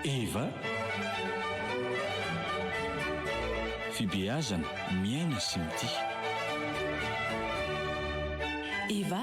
Eva, Fibeazana, miaina sy mitia. Eva,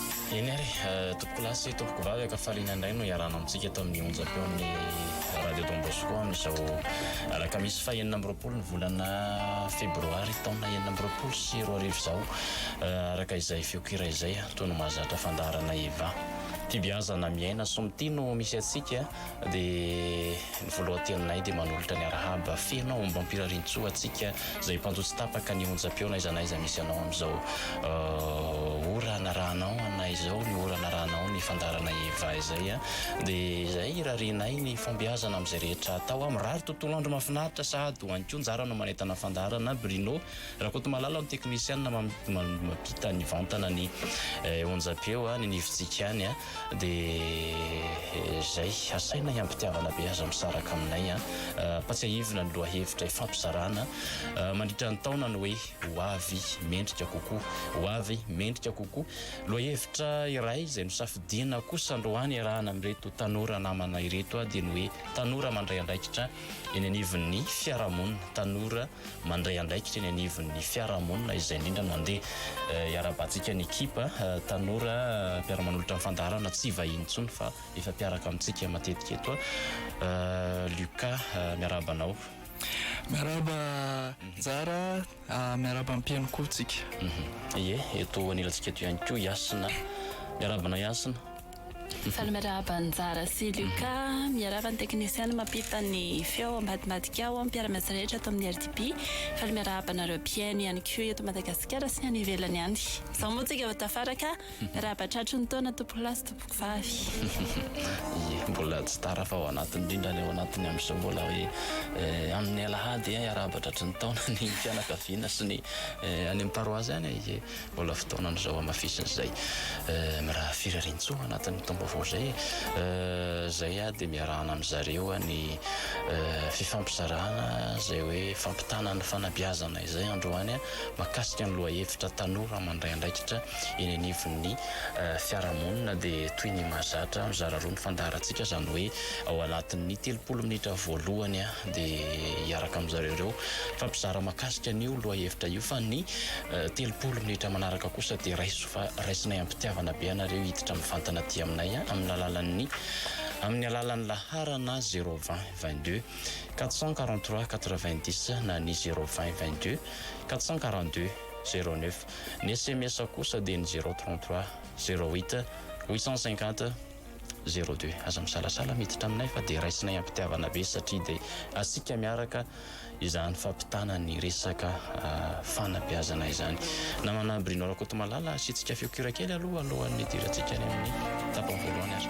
Eny ary, tompoko lahy sy tompoko vavy ankafaliana indray no iarahana amintsika eto amin'ny onjam-peon'ny Radio Don Bosco amin'izao alakamisy faha enina amby roapolo ny volana febroary taona enina amby roapolo sy roa arivo izao araka izay feon-kira izay toy ny mahazatra fandaharana Eva. Tia beazana miaina soa mitia no misy antsika. Dia ny voalohan-teninay dia manolotra ny arahaba feno aombam-pirarian-tsoa antsika izay mpanjo tsy tapaka ny onjam-peo n'aiza n'aiza misy anao amin'izao ora anarahanao anay izao, ny ora anarahanao ny fandaharanay Eva izay a. Dia izay irarianay ny fahombiazana amin'izay rehetra atao a. Mirary tontolo andro mahafinaritra sahady ho an'i koa ny jaranao manentana fandaharana Bruno Rakotomalala ny teknisianina mampita nivantana ny onjam-peo any anivontsika any a. Dia izay, asaina hiampitiavana be aza misaraka aminay an! Ampatsiahivina ny lohahevitra ifampizarana mandritra ny taona ny hoe Ho avy mendrika kokoa, ho avy mendrika kokoa. Lohahevitra iray izay nosafidiana kosa androany iarahana amin'ireto tanora namana ireto dia ny hoe Tanora mandray andraikitra eny anivon'ny fiarahamonina, tanora mandray andraikitra eny anivon'ny fiarahamonina izay indrindra mandeha. Iarahabantsika ny ekipa tanora mpiara-manolotra ny fandaharana tsy vahiny intsony fa efa mpiaraka amintsika matetika eto. Lucas, miarahaba anao. Miarahaba Njara, miarahaba ny mpihaino koa tsika. Ie, eto anilantsika eto ihany koa i Hasina. Miarahaba anao Hasina. Mifaly miarahaba Njara sy Luca. Miarahaba ny teknisiana mampifa ny feo ao ambadimbadika ao, mpiara-miasa rehetra ato amin'ny RDB. Mifaly miarahaba anareo mpihaino ihany koa eto Madagasikara sy ny any ivelany any. Izao moa tsika vao tafaraka, miarahaba tratry ny taona tompokolahy sy tompokovavy. Ie, mbola tsy tara fa ao anatiny indrindra any ao anatiny amin'izao mbola hoe amin'ny alahady hiarahaba tratry ny taona ny fianakaviana sy ny any amin'ny paroasy any e. Mbola fotoanan'izao hamafisina izay miraha firariantsoa anatin'ny taom-baovao izay e! Izay dia miarahana amin'ny zareo ny fifampizarana izay hoe fampitana ny fanabeazana izay androany mahakasika ny lohahevitra tanora mandray andraikitra eny anivon'ny fiarahamonina dia toy ny mahazatra mizara roa ny fandaharantsika izany hoe ao anatin'ny telopolo minitra voalohany dia hiaraka amin'izareo ireo mifampizara mahakasika an'io lohahevitra io fa ny Telopolo minitra manaraka kosa dia raiso fa raisinay am-pitiavana be anareo hiditra mivantana aty aminay amin'ny alalan'ny amin'ny alalan'ny laharana zéro vingt vingt deux quatre cent quarante trois quatre vingt dix na ny zéro vingt vingt deux quatre cent quarante deux zéro neuf. Ny sms kosa dia ny zéro trente trois zéro huit huit cent cinquante Zero deux, aza misalasala miditra aminay fa dia raisinay ampitiavana be satria dia asika miaraka izany fampitana ny resaka fanabeazana izany. Namana Bruno Rakotomalala, asiantsika feo kira kely aloha alohan'ny hidirantsika any amin'ny tapany voalohany ary.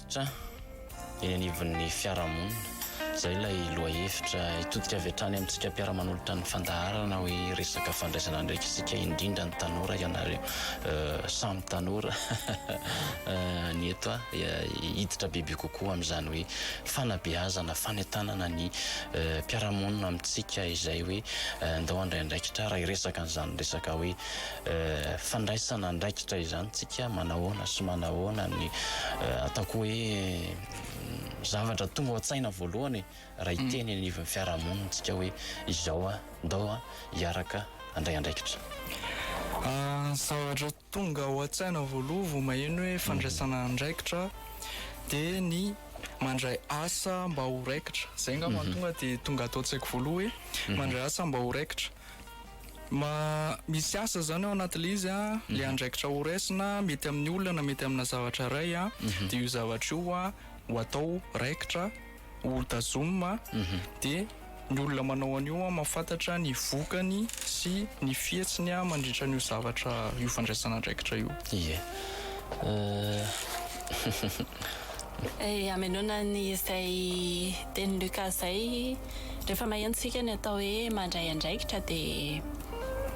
Hevitra eny anivon'ny fiarahamonina. Izay ilay lohahevitra hitodika avy hatrany amintsika mpiara-manolotra ny fandaharana hoe resaka fandraisana andraikitra isika indrindra ny tanora ianareo samy tanora ny eto hiditra bebe kokoa amin'izany hoe fanabeazana fanentanana ny mpiara-monina amintsika izay hoe ndao handray andraikitra raha hiresaka an'izany resaka hoe fandraisana andraikitra izany tsika manahoana sy manahoana ny ataoko hoe zavatra tonga ao an-tsaina voalohany raha hiteny mm. anivon'ny fiarahamonina tsika hoe izao a ndao a hiaraka andray andraikitra ah, zavatra tonga ao an-tsaina voaloha vo maheno hoe fandraisana mm. andraikitra dia ny mandray asa mba ho raikitra zay nga mhm. mahatonga dia tonga atao tsaiko voaloha hoe mhm. mandray asa mba ho raikitra Ma, misy asa izany ao anatin'ilay izy an, ilay andraikitra ho raisina mety amin'ny olona na mety amina zavatra iray an, dia io zavatra io an ho atao raikitra, ho tazomina, dia ny olona manao an'io an mahafantatra ny vokany sy ny fihetsiny an mandritra an'io zavatra, io fandraisana andraikitra io. Ie. Ëhh. Hamenona an'izay tenin'i Luca izay. Rehefa maheno tsika ny atao hoe mandray andraikitra dia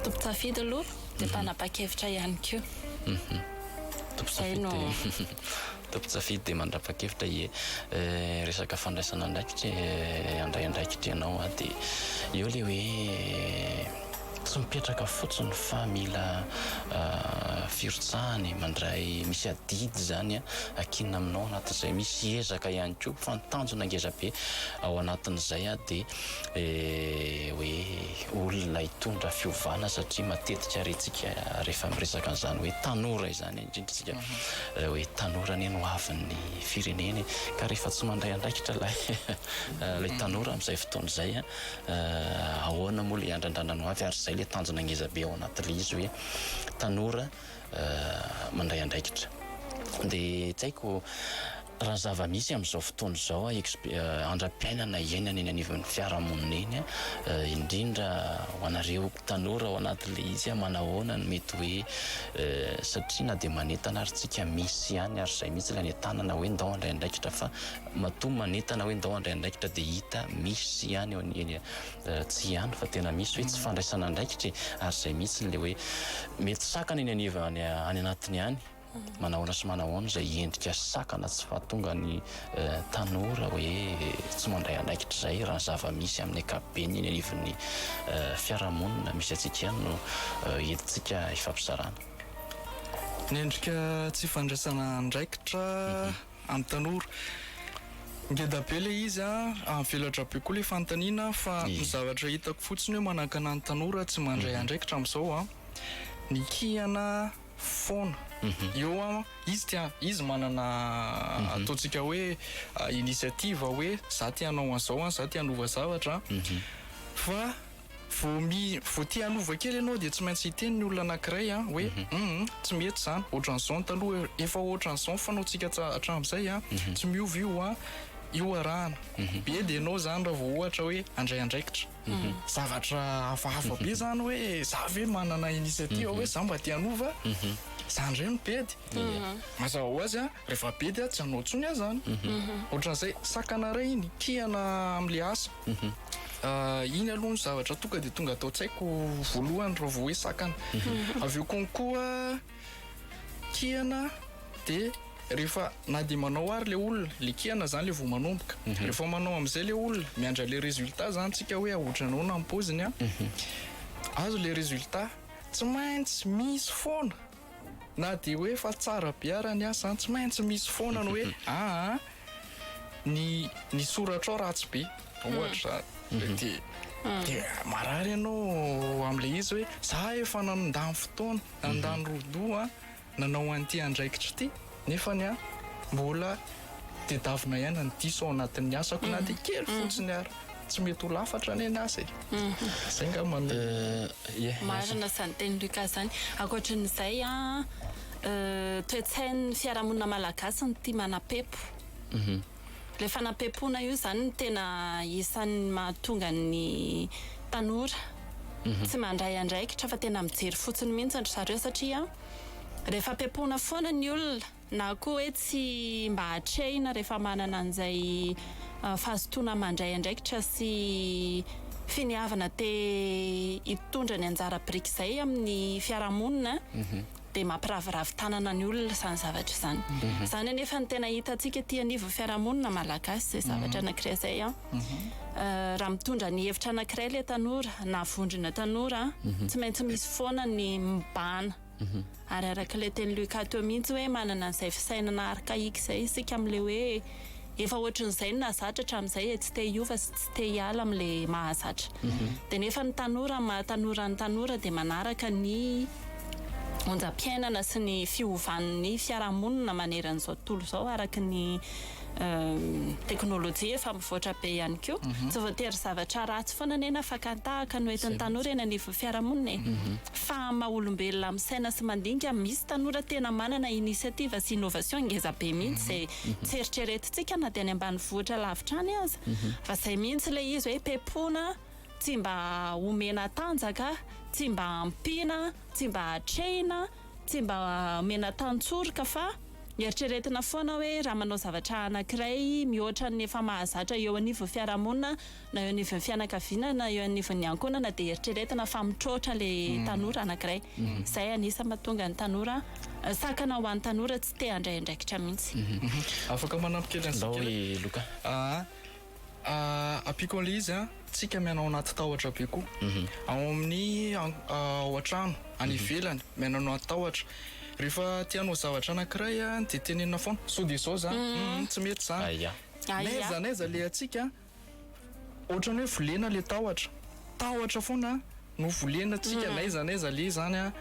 tompon-tsafidy aloha dia mpanapa-kevitra ihany koa. Izay no. Tompon-tsafidy dia mandrapa-kevitra ie. Resaka fandraisana andraikitra e, handray andraikitra ianao dia eo ilay hoe. Tsy mipetraka fotsiny fa mila firotsahana e, mandray misy adidy izany akinina aminao anatin'izay, misy ezaka ihany koa fa ny tanjona ngeza be ao anatin'izay dia hoe olona hitondra fiovana satria matetika rentsika rehefa miresaka an'izany hoe tanora izany indrindra isika hoe tanora anie no hoavin'ny firenena e, ka rehefa tsy mandray andraikitra ilay tanora amin'izay fotoana izay ahoana moa ilay andrandrana ny hoavy ary izay ilay tanjona ngeza be ao anaty ilay izy hoe tanora mandray andraikitra dia tsy haiko raha zava-misy amin'izao fotoana izao andram-piainana iainana eny anivon'ny fiarahamonina eny indrindra ho anareo tanora ao anaty ilay izy manahoana no mety hoe satria na dia manentana ary tsika misy ihany ary izay mihitsy ilay anentanana hoe ndao handray andraikitra fa Matoa manentana hoe ndao handray andraikitra dia hita misy ihany eo ny eny tsy ihany fa tena misy hoe tsy fandraisana andraikitra e! ary izay mihitsy ilay hoe mety sakana eny aniva any anatiny any manahoana sy manahoana izay endrika sakana tsy fahatonga ny tanora hoe tsy mandray andraikitra izay raha ny zava misy amin'ny ankapobeny eny anivon'ny fiarahamonina misy antsika ihany no entintsika hifampizarana. Ny endrika tsy fandraisana andraikitra. An'ny tanora. Ngeda be ilay izy an! Avelatra be koa ilay fanontaniana fa ny zavatra hitako fotsiny hoe manakana ny tanora tsy mandray andraikitra amin'izao an! Ny kihana foana. Eo an! Izy tia, izy manana ataontsika hoe initiative hoe za te hanao an'izao an! Za te hanova zavatra an! Fa Vao mi, vao te hanova kely ianao dia tsy maintsy hiteny ny olona anankiray an, hoe hum, tsy mety izany, ohatran'izao ny taloha, efa ohatran'izao ny fanaontsika hatramin'izay an, tsy miova io an, io arahana be dia ianao izany raha vao ohatra hoe handray andraikitra, zavatra hafahafa be izany hoe za ve manana initiative hoe za mba te hanova, za indray no bedy, mazava ho azy an, rehefa bedy an, tsy hanao intsony an izany, ohatran'izay, sakana iray iny, kihana amin'ilay asa. Mhm. Ah, iny aloha ny zavatra tonga dia tonga ato an-tsaiko voalohany raha vao hoe sakana mhm. avy eo konkoa kihana dia rehefa na dia manao ary le olona le kihana zany le vao manomboka mhm. rehefa manao am'izay le olona miandra le résultat zany tsika hoe aotranao na ampoziny a mhm. azo le résultat tsy maintsy misy foana Na dia hoe efa tsara be ara ny asa an, tsy maintsy misy foana ny hoe aa ny ny soratrao ratsy be ohatra izany dia dia marary ianao amin'ilay izy hoe za efa nandany fotoana, nandany rodoa nanao an'ity andraikitra ity. nefa ny ahy mbola tedavina ihany ny diso ao anatin'ny asako na dia kely mhm. fotsiny ary tsy mety ho lafatra anie ny asa e mhm. zay nga mame eh, marina zany teny luka zany ankoatran'izay a ah, eh, toetsain'ny fiarahamonina malagasy ny tia manapepo mhm. Ilay fanampiam-poana io izany no tena isan'ny mahatonga ny tanora tsy mandray andraikitra fa tena mijery fotsiny mihitsy ry zareo satria rehefa ampiam-poana foana ny olona na koa hoe tsy mba atrehina rehefa manana an'izay fahazotoana mandray andraikitra sy finiavana te hitondra ny anjara biriky izay amin'ny fiarahamonina. dia mampiraviravy tanana ny olona izany zavatra izany. Izany anefa no tena hitantsika ety anivon'ny fiarahamonina malagasy izay zavatra anankiray izay. Raha mitondra ny hevitra anankiray ilay tanora na vondrona tanora, tsy maintsy misy foana ny mibahana. Ary araka ilay teny Luca teo mihitsy hoe manana an'izay fisainana archaïque izay isika amin'ilay hoe. Efa ohatrin'izay no nahazatra hatramin'izay e, tsy te hiova sy tsy te hiala amin'ilay mahazatra. Dia nefa ny tanora amin'ny maha tanora ny tanora dia manaraka ny onjam-piainana sy ny fiovan'ny fiarahamonina manerana izao tontolo izao araka ny teknolojia efa mivoatra be ihany koa. Tsy voatery zavatra ratsy foana anie na fakan-tahaka no entin'ny tanora eny anivon'ny fiarahamonina e. Fa amin'ny maha olombelona misaina sy mandinika, misy tanora tena manana initiative sy innovation ngeza be mihitsy izay Tsy eritreretintsika na dia any ambanivohitra lavitra any aza fa izay mihitsy ilay izy hoe pepona, tsy mba omena tanjaka, tsy mba ampiana, tsy mba atrehina, tsy mba omena tantsoroka fa eritreretina foana hoe raha manao zavatra anankiray mihoatra ny efa mahazatra eo anivon'ny fiarahamonina na eo anivon'ny fianakaviana na eo anivon'ny ankohonana dia eritreretina fa mitroatra ilay hmm. tanora anankiray hmm. izay anisa mahatonga ny tanora eh, sakana ho an'ny tanora tsy te handray andraikitra mihitsy hmm. afaka manampy kely an'izay loka ah, ah, apiko an'ilay izy a ah. tsika mianao anaty tahotra be koa mhm. ao amin'ny ao an-trano any mhm. ivelany mianao anaty tahotra rehefa tianao zavatra anankiray a dia tenenina foana so dia izao zany mhm, tsy mety zany aiza n'aiza le atsika Otrany hoe volena le tahotra. Tahotra foana no volena tsika na iza na iza le zany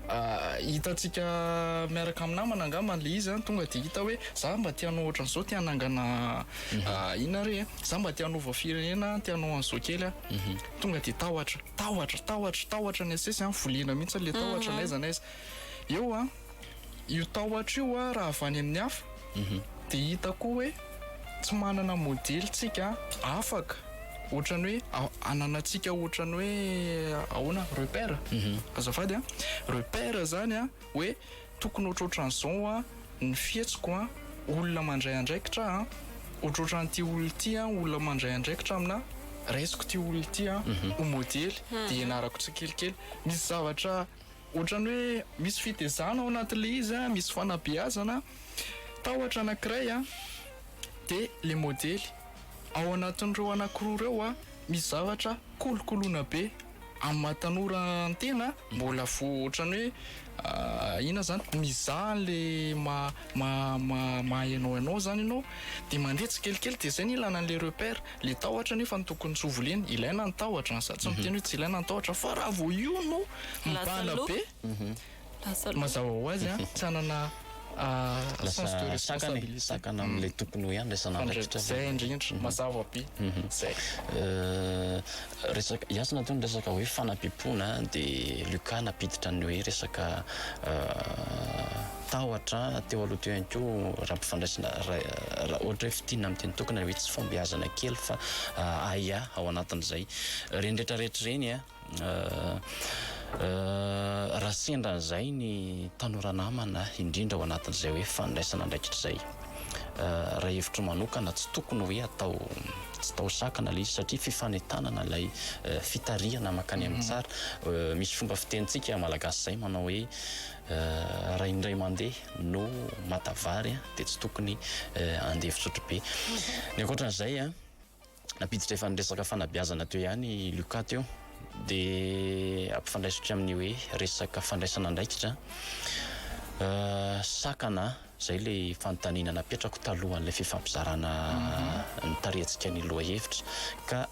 a hitantsika miaraka am namana angambany le izy an tonga de hita hoe za mba te hanao otrany zao te hanangana inona re e za mba te hanova firenena te hanao anzao kely a tonga de tahotra tahotra tahotra tahotra ny asesy an volena mihitsy le tahotra na iza na iza eo an. Io tahotra io a raha avy any amin'ny hafa dia hita koa hoe tsy manana modely tsika afaka ohatrany hoe ananantsika ohatrany hoe ahoana repère azafady a repère zany a hoe tokony ohatrohatran'izao a ny fihetsiko a olona mandray andraikitra a ohatrohatran'ity olona ity a olona mandray andraikitra amina raisiko ity olona ity a ho modely dia ianarako tsikelikely misy zavatra Ohatran'ny hoe misy fitezana ao anatin'ilay izy a, misy fanabeazana, tahotra anankiray a, dia ilay modely ao anatin'ireo anankiroa ireo a, misy zavatra kolokoloina be amin'ny maha tanora ny tena mbola vo ohatran'ny hoe inona izany mizaha an'ilay maha maha maha hainao hainao izany ianao dia mandeha tsikelikely dia izay no ilana an'ilay repère. Le tahotra nefa no tokony tsy ho voliany. Ilaina ny tahotra, ny za tsy miteny hoe tsy ilaina ny tahotra fa raha vao io no mibahana be, mazava ho azy an, tsy hanana sens de responsabilité. Sakana amin'ilay tokony ho iandraisana andraikitra. Fandritra, zay indrindra, mazava be, zay. Resaka, iasina teo ny resaka hoe fanapipona dia Lucas nampiditra ny hoe resaka. Tahotra teo aloha teo ihany koa raha ampifandraisina raha ohatra hoe fintinina amin'ny tenin-tokana hoe tsy fahombiazana kely fa ahiahy ao anatin'izay. Ireny rehetra rehetra ireny raha sendra an'izay ny tanora namana indrindra ao anatin'izay hoe fandraisana andraikitra izay. Raha hevitro manokana tsy tokony hoe atao tsy tao sakana ilay izy satria fifanentanana ilay fitarihana mankany amin'ny tsara. Misy fomba fitenintsika malagasy izay manao hoe Raha indray mandeha no mata vary dia tsy tokony handeha fisotro be. Ny ankoatran'izay an, nampiditra efa ny resaka fanabeazana teo ihany i Lucas teo, dia ampifandraisiko amin'ny hoe resaka fandraisana andraikitra. Sakana izay ilay fanontaniana napetrako talohan'ilay fifampizarana ny tarihantsika ny lohahevitra ka.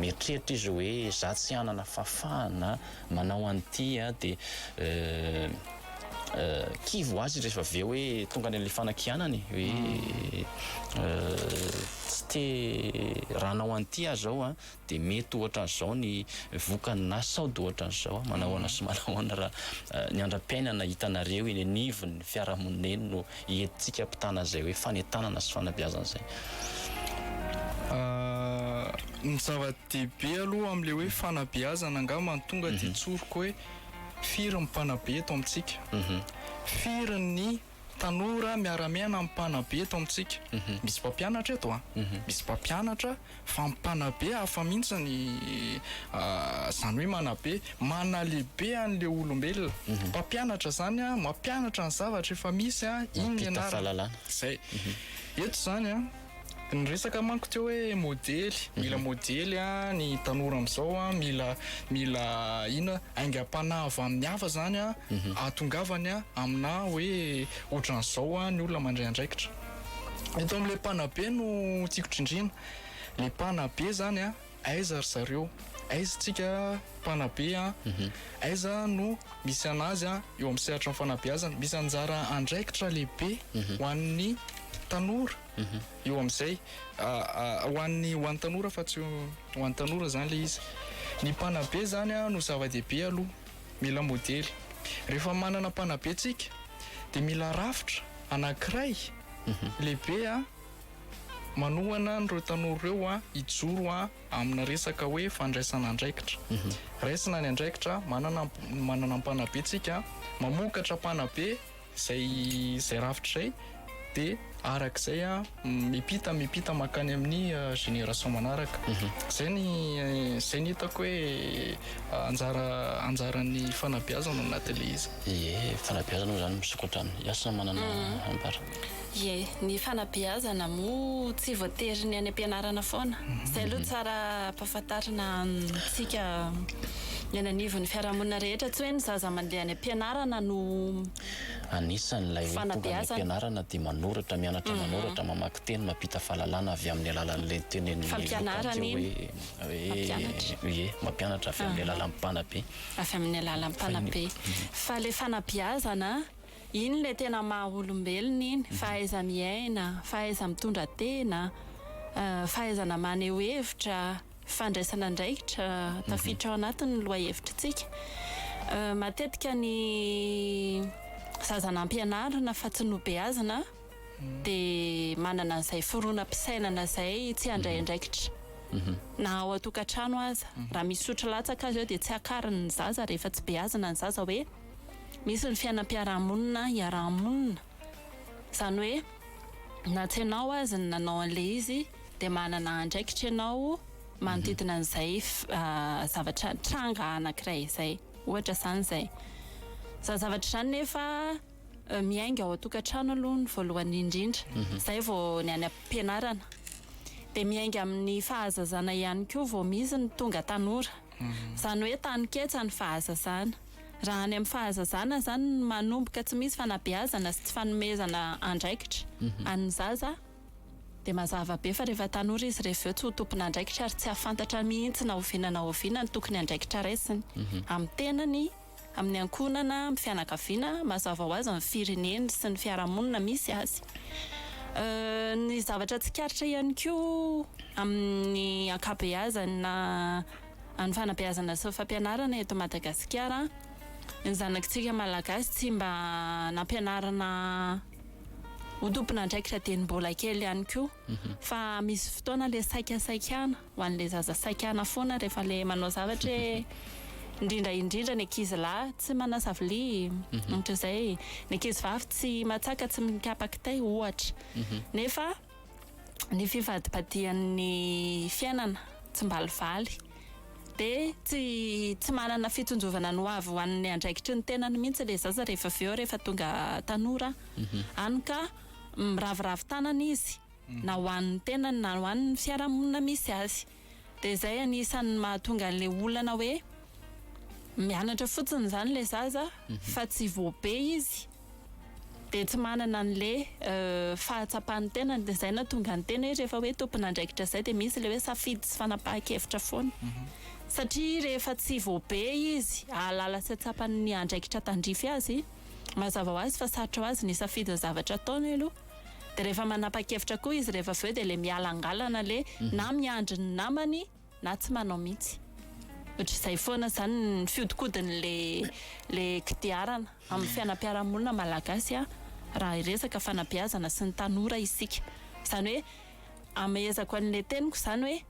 Mieritreritra izy hoe, Izaho tsy hanana fahafahana manao an'ity an! Dia kivy ho azy izy rehefa avy eo hoe tonga any amin'ilay fanakianany hoe, Tsy te raha hanao an'ity aho izao an! Dia mety ohatran'izao ny vokany na sao dia ohatran'izao an! Manao ahoana sy manao ahoana raha ny andram-piainana hitanareo eny anivon'ny fiarahamonina eny no Entintsika ampitana izay hoe fanentanana sy fanabeazana izay. Ny zava-dehibe aloha amin'ilay hoe fanabeazana angamba ny tonga dia tsoriko hoe firy ny mpanabe eto amintsika? Firy ny tanora miara-miaina amin'ny mpanabe eto amintsika? Misy mpampianatra eto an? Misy mpampianatra. Fa mpanabe hafa mihitsy ny zany hoe manabe, manalehibe an'ilay olombelona. Mpampianatra zany an, mampianatra ny zavatra efa misy an, iny ny anarany. Zay. Eto zany an, niresaka manko teo hoe modely, mila modely an, ny tanora amizao an, mila mila inona, aingam-panahy avy amin'ny hafa zany an, ahatongavany an, aminà hoe otran'izao an ny olona mandray andraikitra. Eto amin'ilay mpanabe no tiako drindrina. Ilay mpanabe izany an, aiza ry zareo? Aiza isika mpanabe an? Aiza no misy an'azy an eo amin'ny sehatry ny fanabeazana? Misy anjara andraikitra lehibe ho an'ny tanora eo amin'izay, ho an'ny ho an'ny tanora fa tsy ho an'ny tanora izany ilay izy. Ny mpanabe izany an no zava-dehibe aloha. mila modely. Rehefa manana mpanabe tsika dia mila rafitra anankiray lehibe manohana an'ireo tanora ireo hijoro amina resaka hoe fandraisana andraikitra. Raisina ny andraikitra, manana ny mpanabe tsika, mamokatra mpanabe Izay izay rafitra izay dia araka izay mipita mipita mankany amin'ny génération manaraka. Izay ny izay ny hitako hoe anjara anjaran'ny fanabeazana ao anatin'ilay izy. Ie fanabeazana moa izany misokatra any. Ianao samy manana ambara. Ie, ny fanabeazana moa tsy voatery ny any am-pianarana foana. Izay aloha tsara ampahafantarina amintsika eny anivon'ny fiarahamonina rehetra, tsy hoe ny zaza mandeha any am-pianarana no Anisan' ilay hoe tonga any am-pianarana dia manoratra, mianatra manoratra, mamaky teny, mampita fahalalana avy amin'ny alalan'ilay tenenin'ny vokany hoe, hoe, ie, mampianatra avy amin'ny alalan'ny mpanabe. Avy amin'ny alalan'ny mpanabe. Fa ilay fanabeazana Iny ilay tena maha olombelona iny, fahaiza-miaina, fahaiza-mitondra tena, fahaizana maneho hevitra, fandraisana andraikitra tafiditra ao anatin'ny lohahevitritsika. Matetika ny zaza nampianarina fa tsy nobeazina dia manana an'izay fironam-pisainana izay tsy handray andraikitra na ao an-tokantrano aza. Raha misy sotro latsaka aza eo dia tsy akariny ny zaza rehefa tsy beazina ny zaza hoe. Misy ny fiainam-piarahamonina iaraha-monina, izany hoe na tsy ianao aza ny nanao an'ilay izy dia manana andraikitra ianao manodidina an'izay zavatra tranga anankiray izay, ohatra izany izay. Izany zavatra izany nefa miainga ao an-tokantrano aloha ny voalohany indrindra, izay vao ny any am-pianarana. Dia miainga amin'ny fahazazana ihany koa vao misy ny tonga tanora, izany hoe taninketsa ny fahazazana. Raha any amin'ny fahazazana izany no manomboka tsy misy fanabeazana sy tsy fanomezana andraikitra an'ny zaza dia mazava be fa rehefa tanora izy rehefa avy eo tsy ho tompon'andraikitra ary tsy hahafantatra mihitsy na oviana na oviana ny tokony andraikitra raisiny amin'ny tenany, amin'ny ankohonana, amin'ny fianakaviana, mazava ho azy ny fireneny sy ny fiarahamonina misy azy. Ny zavatra tsikaritra ihany koa amin'ny ankabeazany na. Any fanabeazana sy fampianarana eto Madagasikara ny zanakitsika malagasy tsy mba nampianarina ho tompon'andraikitra dieny mbola kely ihany koa mhm. fa misy fotoana le saika saikana ho an'le zaza saikana foana rehefa le manao zavatra indrindra indrindra ny ankizy lahy tsy manasa vilia mhm. ohatr'izay ny ankizy vavy tsy matsaka tsy mikapakitay ohatra mhm. nefa ny fivadibadihan'ny fiainana tsimbalivaly dia tsy tsy manana fitsinjovana ny ho avy ho an'ny andraikitry ny tenany mihitsy ilay zaza rehefa avy eo rehefa tonga tanora mhm. any ka miraviravy tanana izy mhm. na ho an'ny tenany na ho an'ny fiarahamonina misy azy Dia izay anisan'ny mahatonga an'ilay olana hoe mianatra fotsiny izany ilay zaza fa tsy voabe izy dia tsy manana an'ilay fahatsapan'ny tenany. Dia izay nahatonga ny tena hoe rehefa hoe tompon'andraikitra izay dia misy ilay hoe safidy sy fanapahan-kevitra foana. Satria rehefa tsy voabe izy hahalala sy hahatsapa ny andraikitra tandrify azy, mazava ho azy fa sarotra ho azy ny hisafidy ny zavatra ataony aloha. de rehefa manapakevitra koa izy rehefa aveo de le miala angalana le na miandry ny namany na tsy manao mihitsy ohatrizay foana zany ny fiodikodiny le le kidiarana amin'ny fianampiarahamonina malagasy a raha hiresaka fanabeazana sy ny tanora isika zany hoe amehezako anle teniko zany hoe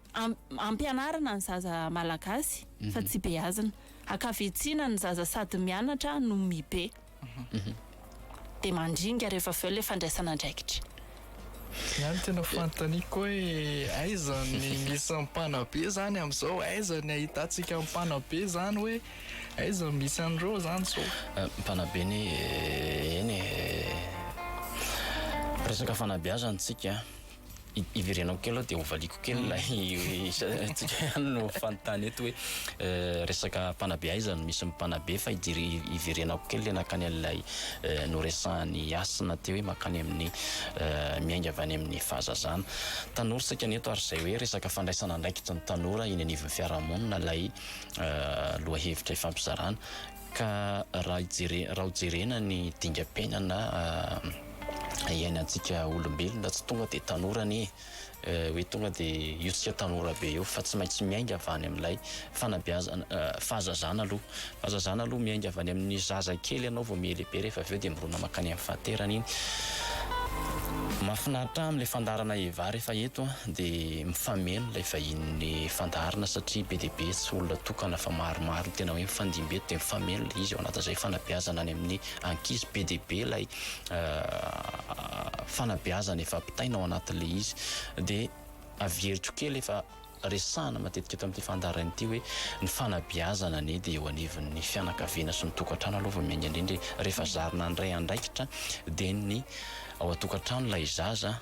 ampianarina ny zaza malagasy fa tsy beazina akavitsiana ny zaza sady mianatra no mibe dia mandringa rehefa avy eo ilay fandraisana andraikitra. Izaho no tena fanontaniako hoe aiza ny misy an'i Mpanabe izany amin'izao? Aiza ny ahitantsika an'i Mpanabe izany hoe aiza no misy an'ireo izany izao? Mpanabe anie eny e! Resaka fanabeazana isika. Iverenako kely aloha dia hovaliako kely ilay isika ihany no fanontany eto hoe resaka mpanabe aiza no misy mpanabe fa iverenako kely ilay nankany an'ilay noresahan'i Hasina teo hoe mankany amin'ny miainga avy any amin'ny fahazazana. Tanora isika ny eto ary izay hoe resaka fandraisana andraikitry ny tanora eny anivon'ny fiarahamonina ilay lohahevitra ifampizarana. Ka raha hojerena ny dingam-piainana iainantsika olombelona, tsy tonga dia tanora anie e! Hoe tonga dia io tsika tanora be io fa tsy maintsy miainga avy any amin'ilay fanabeazana, fahazazana aloha, fahazazana aloha, miainga avy any amin'ny zaza kely ianao vao mihelehibe rehefa avy eo dia mirona mankany amin'ny fahaterana iny. Mahafinaritra ahy amin'ilay fandaharana Eva rehefa eto dia. Mifameno ilay vahinin'ny fandaharana satria be dia be tsy olona tokana fa maromaro ny tena hoe mifandimby eto dia mifameno ilay izy, ao anatin'izay fanabeazana any amin'ny ankizy be dia be ilay fanabeazana efa ampitaina ao anatin'ilay izy dia averiko kely efa resahina matetika eto amin'ity fandaharana ity hoe ny fanabeazana anie dia eo anivon'ny fianakaviana sy ny tokantrano aloha vao miainga indrindra e, rehefa zarina handray andraikitra dia ny ao an-tokantrano ilay zaza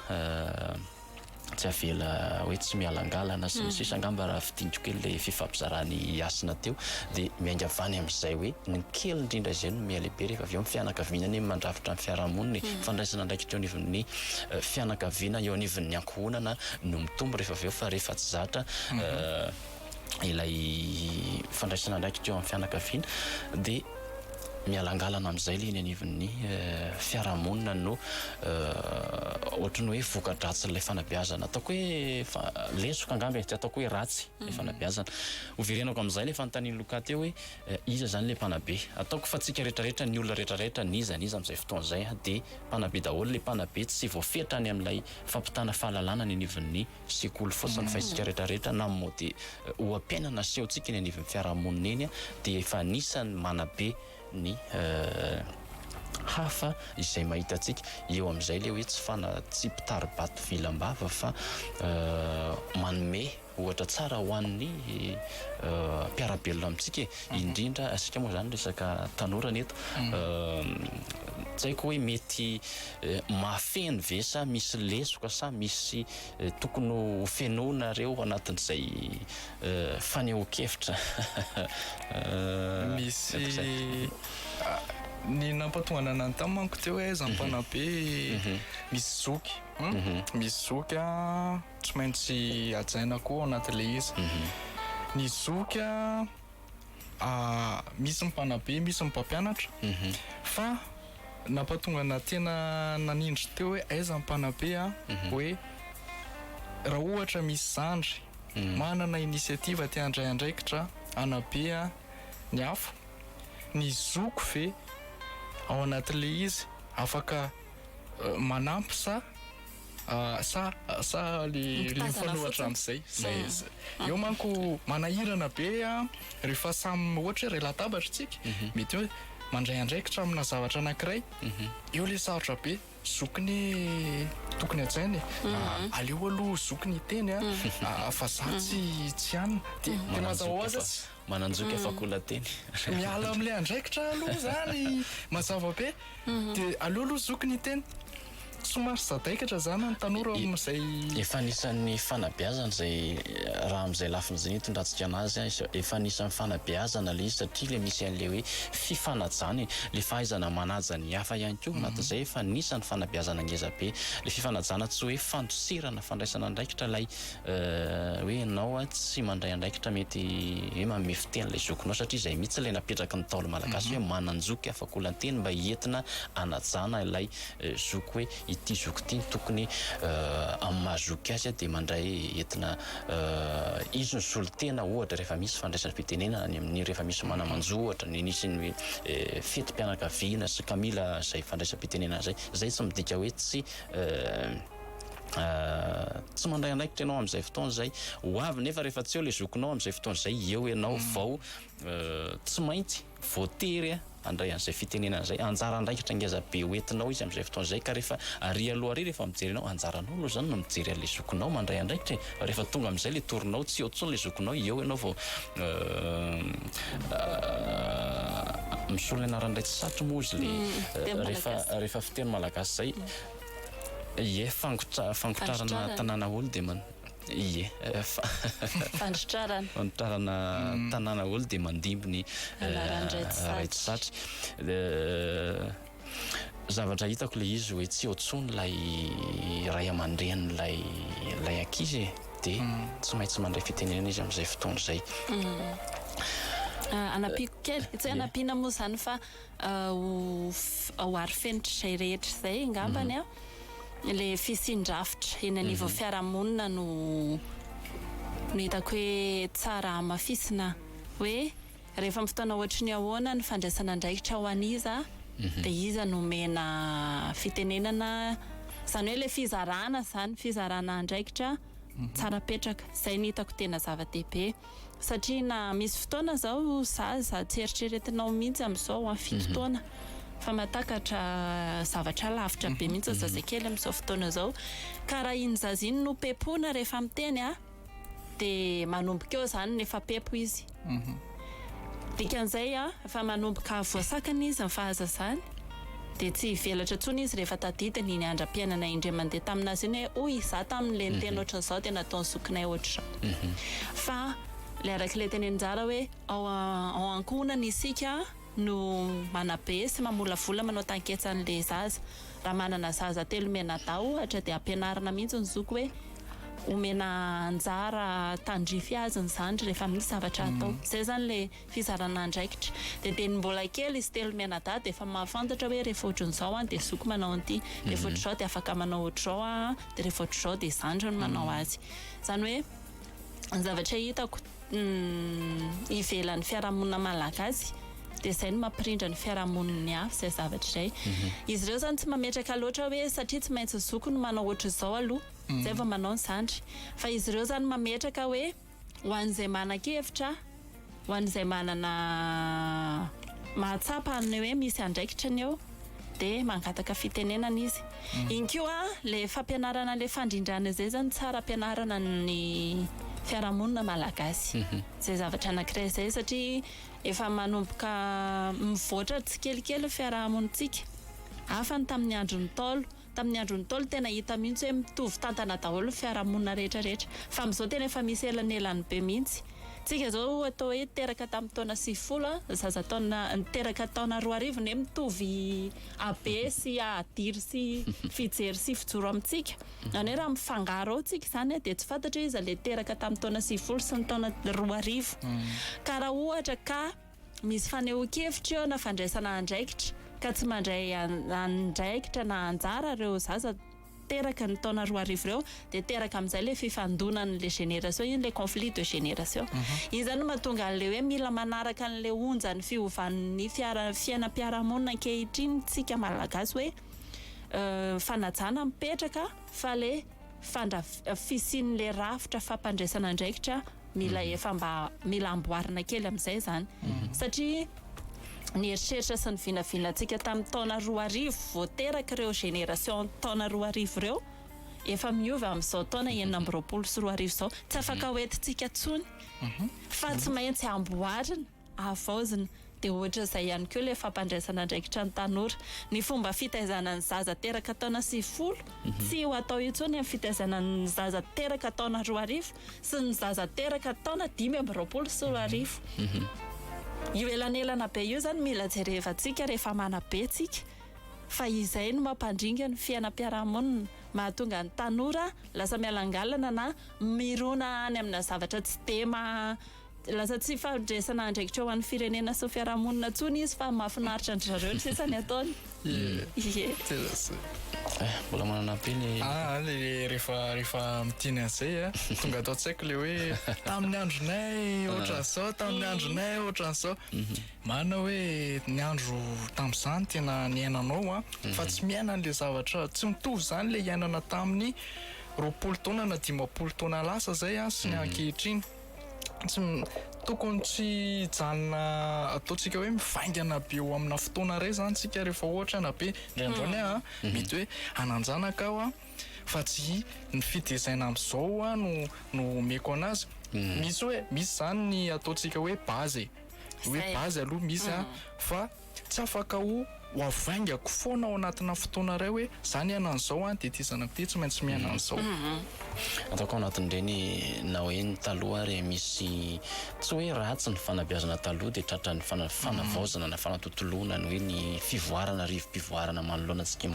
tsy avela hoe tsy mialangalana sy ny sisa hmm. angamba raha fidiniko kely le fifampizarany asina teo de miainga vany amizay hoe ny kely indrindra izay no mialehibe rehefa avy eo ny fianakaviana ny mandrafitra ny fiarahamonina ny hmm. fandraisana andraikitra eo anivon'ny eh, fianakaviana eo anivon'ny ankohonana no mitombo rehefa avy eo fa rehefa tsy zatra hmm. eh, ilay fandraisana andraikitra eo amin'ny fianakaviana dia mialangalana amin'izay ilay eny anivon'ny fiarahamonina no ohatry ny hoe voka-dratsin'ilay fanabeazana ataoko hoe lesoka angamba e, tsy ataoko hoe ratsy ilay fanabeazana. Hoverenako amin'izay ilay fanontanian'i Luca teo hoe iza izany ilay mpanabe? Ataoko fa antsika rehetrarehetra, ny olona rehetrarehetra, n'iza n'iza amin'izay fotoana izay dia mpanabe daholo. Ilay mpanabe tsy voafetra any amin'ilay fampitana fahalalana any anivon'ny sekoly fotsiny fa isika rehetra rehetra na mody oha-piainana asehontsika eny anivon'ny fiarahamonina eny dia efa anisan'ny manabe ny hafa izay mahita antsika eo amin'izay le hoe tsy fana tsy mpitari-bato vilam-bava fa manome ohatra tsara ho an'ny mpiara-belona amintsika indrindra asika moa zany resaka tanora ny eto tsy haiko hoe mety mahafeno ve sa misy lesoka sa misy tokony ho fenoina re ao anatin'izay fanehoan-kevitra? Misy ny nampatonga ny anany tany manko teo hoe za mpanabe misy zoky misy zoky a tsy maintsy hajaina koa ao anatin'ilay izy ny zoky a misy ny mpanabe, misy ny mpampianatra, fa nampahatonga anà tena nanindry teo hoe aiza ny mpanabe an, hoe raha ohatra misy zandry manana initiative te handray andraikitra hanabe ny hafa, ny zoky ve ao anatin'ilay izy afaka manampy sa Sa sa le mifanohatra amzay zay eo manko manahirana be a rehefa samy ohatra hoe ray latabatra tsika mety hoe mandray andraikitra amina zavatra anakiray eo le sarotra be zoky ne tokony hajaina e aleo aloha zoky ny teny a fa za tsy tsy anona de de mazava hoazy Mananjoika fa koa lateny. Miala amin'ilay andraikitra aloha izany mazava be dia aleo aloha zoky ny hiteny. Somary sadaikatra izany ny tanora ao amin'izay. Efa anisan'ny fanabeazana izay raha amin'izay lafiny izay no hitondrantsika an'azy an. Efa anisan'ny fanabeazana ilay izy satria ilay misy an'ilay hoe fifanajana e. Ilay fahaizana manaja ny hafa ihany koa ao anatin'izay efa anisan'ny fanabeazana ngeza be. Ilay fifanajana tsy hoe fandosirana fandraisana andraikitra ilay. hoe ianao tsy mandray andraikitra mety hoe manome fiteny ilay zokinao satria izay mihitsy ilay napetraky ny Ntaolo malagasy hoe manan-joky afakolan-teny mba entina anajana ilay zoky hoe ity zoky ity no tokony amin'ny maha zoky azy dia mandray entina izy no solontena ohatra rehefa misy fandraisam-pitenenana any amin'ny rehefa misy mana-manjo ohatra ny nisy ny fetim-pianakaviana sy ka mila izay fandraisam-pitenenana izay, izay tsy midika hoe tsy Tsy mandray andraikitra ianao amin'izay fotoana izay. Ho avy nefa rehefa tsy eo ilay zokinao amin'izay fotoana izay, eo ianao mm. vao euh, tsy maintsy voatery handray an'izay fitenenana izay. Anjara andraikitra ngeza be hoentinao izy amin'izay fotoana izay ka rehefa ary aloha ary rehefa mijery anao, anjaranao aloha izany no mijery an'ilay zokinao mandray andraikitra e. Fa rehefa tonga amin'izay ilay torinao, tsy eo tsony ilay zokinao, eo ianao vao euh, euh, misolo ny anaran'ilay tsy satry moa izy le mm, euh, rehefa rehefa fiteny malagasy izay Ie, fangotrarana tanàna olo dia man. Ie, fangotrarana tanàna olo dia mandimby ny Raitsatry. Zavatra hitako ilay izy hoe tsy eo intsony ilay ray aman-drenin'ilay ilay ankizy e, dia tsy maintsy mandray fitenenana izy amin'izay fotoana izay. Hanampiako kely, tsy hoe hanampiana moa izany fa. Ho ho ary fenitrizay rehetra izay ngambany an, ilay fisian-drafitra eny anivon'ny fiarahamonina no no hitako hoe tsara hamafisina hoe rehefa amin'ny fotoana ohatry ny ahoana ny fandraisana andraikitra ho an'iza dia iza no omena fitenenana izany hoe ilay fizarana izany fizarana andraikitra tsara apetraka izay no hitako tena zava-dehibe. satria na misy fotoana zao zaza tsy eritreretinao mihitsy amizao an fito mhm. taona fa matakatra zavatra lavitra be mhm. mihitsy mhm. zazakely amizao fotoana zao ka raha iny zaza iny no pepona rehefa miteny a dia manomboka eo zany ny efa pepo izy dikan'izay a fa manomboka voasakana izy ny fahazazany Dia tsy hivelatra intsony izy rehefa tadidiny iny andram-piainana indray mandeha tamin'azy iny hoe, hoy izaho taminy, ilay niteny ohatran'izao dia nataon'ny zokinay ohatr'izao. Fa ilay araka ilay teny anjara hoe, ao ao ankohonana isika no manabe sy mamolavola manao tanketsa an'ilay zaza. Raha manana zaza telo mianadahy ohatra dia ampianarina mihitsy ny zoky hoe, omena anjara tandrify azy ny zandry rehefa misy zavatra atao. Izay izany ilay. fizarana andraikitra. Dia dia ny mbola kely izy telo mianadahy dia efa mahafantatra hoe rehefa ohatran'izao aho dia zoky manao an'ity, rehefa ohatr'izao dia afaka manao ohatr'izao aho, dia rehefa ohatr'izao dia zandriny manao azy. Izany hoe ny zavatra hitako ivelan'ny fiarahamonina malagasy dia izay no mampirindra ny fiarahamonin'ny hafa izay zavatra izay. Izy ireo izany tsy mametraka loatra hoe satria tsy maintsy ny zoky no manao ohatr'izao aloha izay vao manao ny zandry. Fa izy ireo izany mametraka hoe. Ho an'izay manan-kevitra, ho an'izay manana mahatsapa ny hoe misy andraikitra ny eo dia mangataka fitenenana izy. Iny koa ilay fampianarana ilay fandrindrana izay izany tsara ampianarana ny fiarahamonina malagasy izay zavatra anankiray izay satria efa manomboka mivoatra tsikelikely ny fiarahamonintsika hafa ny tamin'ny andron'ny ntaolo. Tamin'ny andron'ny Ntaolo tena hita mihitsy hoe mitovy tantana daholo ny fiarahamonina rehetra rehetra. Fa amin'izao tena efa misy elanelany be mihitsy. Tsika izao atao hoe teraka tamin'ny taona sivifolo a, zaza taona niteraka taona roa arivo ne mitovy habe sy adiry sy fijery sy fijoro amintsika. Zany hoe raha mifangaro ao tsika izany dia tsy fantatra hoe iza ilay teraka tamin'ny taona sivifolo sy ny taona roa arivo. Ka raha ohatra ka. Misy fanehoan-kevitra eo na fandraisana andraikitra ka tsy mandray andraikitra na anjara ireo zaza teraka ny taona roa arivo ireo dia teraka amin'izay ilay fifandonan'ilay génération, iny ilay conflit de génération. Iny izany no mahatonga an'ilay hoe mila manaraka an'ilay onjan'ny fiovan'ny fiara- fiainam-piarahamonina ankehitriny isika Malagasy hoe fanajana mipetraka fa ilay fandra fisian'ilay rafitra fampandraisana andraikitra mila efa mba mila amboarina kely amin'izay izany satria ny eritreritra sy ny vinavinantsika tamin'ny taona roa arivo vao teraka ireo génération taona roa arivo ireo efa miova amin'izao taona enina amby roapolo sy roa arivo izao tsy afaka hoentintsika intsony fa tsy maintsy amboarina havaozina. Dia ohatran'izay ihany koa ilay fampandraisana andraikitra ny tanora. Ny fomba fitaizana ny zaza teraka taona sivifolo, tsy ho atao intsony amin'ny fitaizana ny zaza teraka taona roa arivo sy ny zaza teraka taona dimy amby roapolo sy roa arivo. Io elanelana be io izany mila jerevantsika rehefa manabe tsika fa izay no mampandringa ny fiainam-piarahamonina, mahatonga ny tanora lasa mialangalana na mirona any amina zavatra tsy dia maha. Lasa tsy faharenesana andraikitra ho an'ny firenena sy ny fiarahamonina intsony izy fa mahafinaritra an-dry zareo ny sisa ny ataony. Ie. Tena zay. Mbola manana ampy ny. Ah ah le rehefa rehefa miteny an'izay a tonga ato an-tsaiko le hoe tamin'ny andronay ohatran'izao tamin'ny andronay ohatran'izao. Marina hoe ny andro tamin'izany tena niainanao a fa tsy miaina an'le zavatra tsy mitovy zany le iainana tamin'ny roapolo taona na dimampolo taona lasa zay a sy ny ankehitriny. tsy tokony tsy hijanona ataontsika hoe mivaingana be eo amina fotoana iray izany isika rehefa ohatra na be indray andro any aho mhm. mety hoe hananjanaka aho fa tsy ny fitezaina amin'izao aho no no omeko anazy mhm. misy hoe misy izany ny ataontsika hoe bazy hoe bazy aloha misy a mhm. fa Tsy afaka ho havaingako foana ao anatina fotoana iray hoe za niaina an'izao dia ity zanako ity tsy maintsy miaina an'izao. Ataoko ao anatin'ireny na hoe ny taloha ary misy tsy hoe ratsy ny fanabeazana taloha dia tratran'ny fanavaozana na fanatontoloana ny hoe ny fivoarana rivo-pivoarana manoloana antsika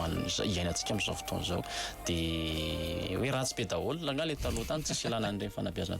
iainantsika amin'izao fotoana izao dia hoe ratsy be daholo angaha ilay taloha tany tsisy ilana an'ireny fanabeazana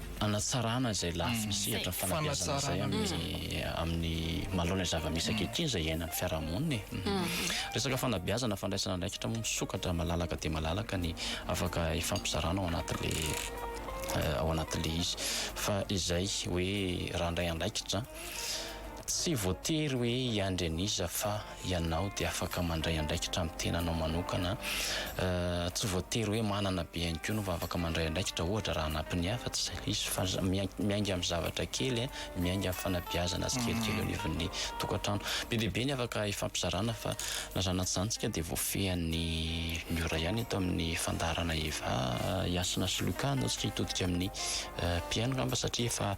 hanatsarana izay lafiny sehatra fanabeazana izay amin'ny manoloana ny zava-misy ankehitriny izay iainan'ny fiarahamonina e. Resaka fanabeazana, fandraisana andraikitra moa misokatra malalaka dia malalaka ny afaka ifampizarana ao anatin'le ao anatin'le izy fa izay hoe raha handray andraikitra tsy voatery hoe hiandry an'iza fa ianao dia afaka mandray andraikitra amin'ny tenanao manokana. Tsy voatery hoe manana be ihany koa no vao afaka mandray andraikitra, ohatra raha hanampy ny hafa, tsy izay ilay izy fa miainga amin'ny zavatra kely, miainga amin'ny fanabeazana tsikelikely eo anivon'ny tokantrano. Be dia be ny afaka hifampizarana fa na izany na tsy izany isika dia voafehin'ny mora ihany eto amin'ny fandaharana Eva, i Hasina sy Luca hanao antsika hitodika amin'ny mpihaino angamba satria efa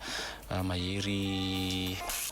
mahery.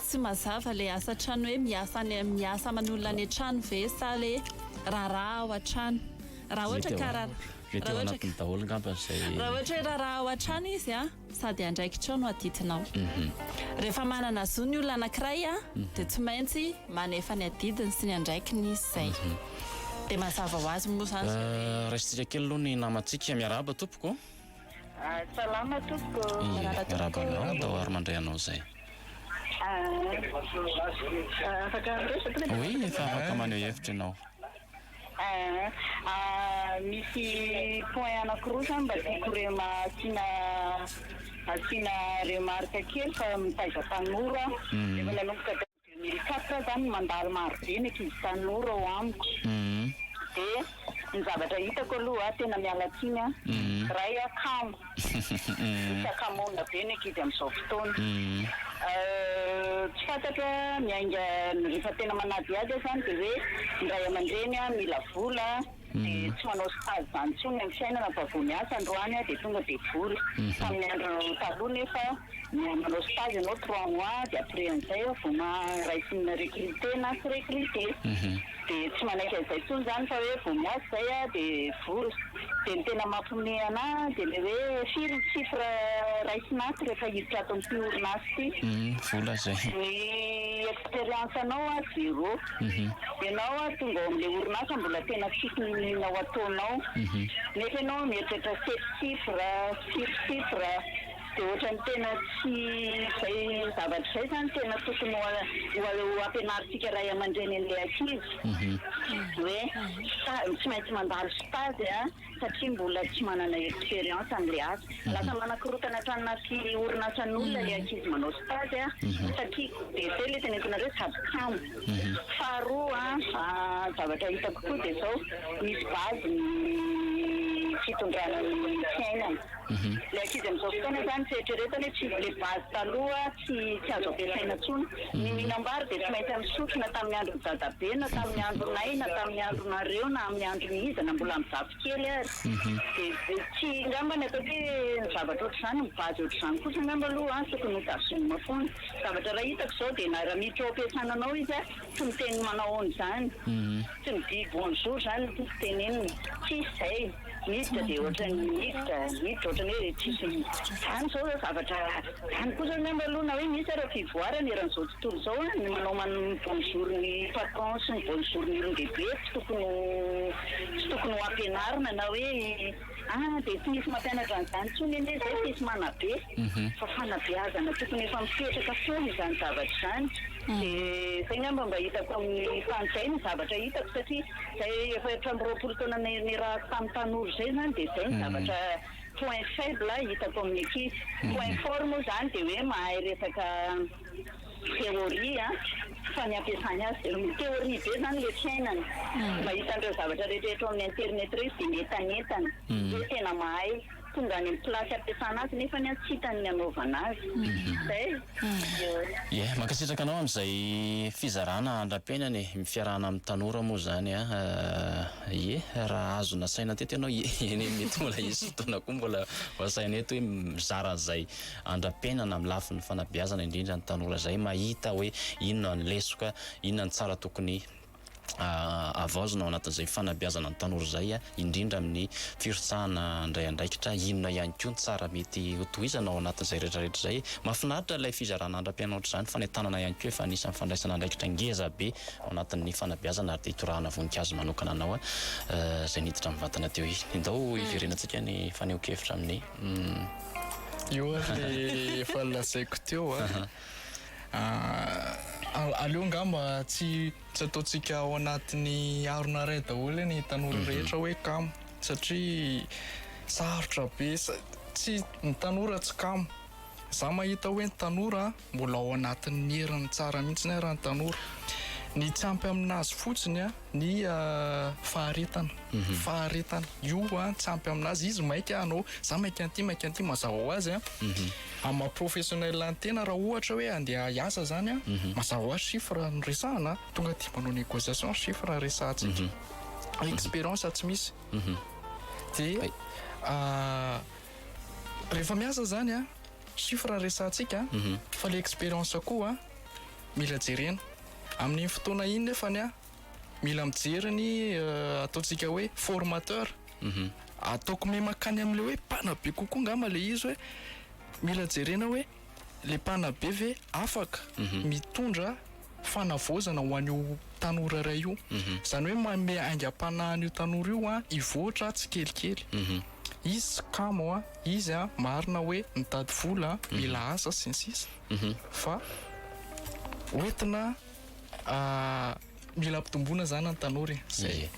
Tsy mazava le asa an-trano hoe miasa any miasa aman'olona any an-trano ve sa le raharaha ao an-trano? Raha ohatra ka ra Mety ao anatiny daholo ngamba izay. Raha ohatra hoe raharaha ao an-trano izy a, sady andraikitrao no adidinao. Rehefa manana zo ny olona anankiray a, dia tsy maintsy manefa ny adidiny sy ny andraikiny izy izay. Dia mazava ho azy moa izany izay hoe. Raisintsika kely aloha ny namantsika. Miarahaba tompoko. Salama tompoko. Miarahaba anao daholo ary mandray anao izay. Afaka miresaka ve? Oui, efa afaka maneho hevitra ianao. Misy point anakiroa zany mba tiako rema asiana asiana remarque kely fa mitaiza tanora aho. Efa nanomboka. Mieritreritra aho izany mandalo maro be ny ankizy tanora ao amiko dia ny zavatra hitako aloha tena miala tsiny an Ray an kamo misakamoana be ny ankizy amin'izao fotoana tsy fantatro ny ainga rehefa tena manadihady aho izany dia hoe ny Ray aman-dreny mila vola dia tsy manao stage izany intsony amin'ny fiainana fa vao miasa androany dia tonga dia vory. Tamin'ny andro taloha nefa manao stage ianao trois mois dia après an'izay aho vao maharay tsy mi-recruter na tsy recruter. Dia tsy manaiky an'izay intsony izany fa hoe vao miasa izay aho dia vory. Dia ny tena mampiomehy ana dia ilay hoe firy ny chiffre raisina ato rehefa hiditra ato amin'ity orinasa ity. Ny expérience anao zéro. Ianao ary tonga ao amin'ilay orinasa mbola tena tsy hinihinina ho ataonao. Nefa ianao mieritreritra sept chiffres, six chiffres. Dia ohatran'ny tena tsy izay zavatra izay izany tena tokony ho ho ampianarintsika ray aman-dreny an'ilay ankizy. Hoe tsy maintsy mandalo stage a! satria mbola tsy manana expérience amin'ilay asa. Lasa manakorotana tranona sy orinasan'olona ilay ankizy manao stage a, satria dia izay ilay tenentinareo sady kamo. Faharoa a, zavatra hitako koa dia izao, misy base ny fitondrana ny fiainana. Ilay ankizy amin'izao fotoana izany tsy eritreretany hoe tsy ilay base taloha tsy tsy azo ampiasaina intsony. Ny mihinam-bary dia tsy maintsy amin'ny sotro na tamin'ny andron'i dadabe na tamin'ny andronay na tamin'ny andronareo na amin'ny andron'iza na mbola amin'ny zafikely ary. Dia tsy angamba ny ataoko hoe ny zavatra ohatr'izany ny base ohatr'izany kosa angamba aloha an tokony ho tazomina foana. Zavatra raha hitako izao dia na raha miditra ao am-piasana anao izy an tsy miteny manao ahoana izany. Tsy midihy bonjour izany no tiako tenenina. Tsisy izay. Miditra dia ohatran'ny miditra, miditra ohatran'ny hoe tsisy izany izao ireo zavatra izany kosa angamba aloha na hoe misy ary fivoarana eran'izao tontolo izao an, ny manao ny bonjour ny patron sy ny bonjour ny olon-dehibe tsy tokony ho tsy tokony ho ampianarina na hoe ah dia tsy misy mampianatra an'izany intsony anie izay fa izy manabe fa fanabeazana tokony efa mipetraka foana izany zavatra izany dia izay angamba mba hitako amin'ny tany izay no zavatra hitako satria Izay efa efatra amby roapolo taona niarahako tamin'ny tanora izay izany dia izay ny zavatra point faible hitako amin'ny ankizy. Point fort moa izany dia hoe mahay resaka théorie fa ny ampiasany azy dia mi théorie be izany ilay fiainany. Mahita an'ireo zavatra rehetra eto amin'ny internet ireo izy dia mientanentana. Izay tena mahay. Tonga any amin'ny place hampiasana azy nefany an tsy hitany ny hanaovana azy. Zay. Ie, mankasitraka anao amin'izay fizarana andra-piainana e, ny fiarahana amin'ny tanora moa izany an, ie, raha azo nasaina teto ianao ie, eny mety mbola hisy fotoana koa mbola ho asaina eto hoe mizara an'izay andra-piainana amin'ny lafiny fanabeazana indrindra ny tanora izay mahita hoe inona ny lesoka, inona ny tsara tokony. havaozina ao anatin'izay fanabeazana ny tanora izay, indrindra amin'ny firotsahana handray andraikitra, inona ihany koa ny tsara mety hotohizana ao anatin'izay rehetrarehetra izay. Mahafinaritra ilay fizarana andram-pianatra izany fa ny an-tanana ihany koa efa anisan'ny fandraisana andraikitra ngeza be ao anatin'ny fanabeazana ary dia itorahana voninkazo manokana anao izay niditra mivantana teo iny. Indao hiverenantsika ny fanehoan-kevitra amin'ny. Io ary efa lazaiko teo. Ahh aleo nga mba tsy tsy ataontsika ao anatin'ny harona iray daholo ny tanora rehetra hoe kamo satria sarotra be tsy ny tanora tsy kamo za mahita hoe ny tanora mbola ao anatin'ny heriny tsara mihitsy ny raha ny tanora ny tsy ampy aminazy fotsiny an ny faharetana faharetana io an tsy ampy amin'azy izy maika hanao za maika an'ity maika an'ity mazava ho azy an amin'ny maha professionnel ny tena raha ohatra hoe andeha hiasa zany an mazava ho azy chiffre no resahana an tonga dia manao négociation chiffre no resahantsika fa expérience tsy misy dia rehefa miasa zany an chiffre no resahantsika fa le expérience koa mila jerena Amin'iny fotoana iny nefany an, mila mijery ny ataontsika hoe formateur. Ataoko miha mankany amin'ilay hoe mpanabe kokoa angamba ilay izy hoe mila jerena hoe ilay mpanabe ve afaka mitondra fanavaozana ho an'io tanora iray io. Izany hoe manome aingam-panahy an'io tanora io hivoatra tsikelikely. Izy tsy kamo an, izy marina hoe mitady vola an, mila asa sy ny sisa. fa hoentina mila ampitomboina zany an tanora e zay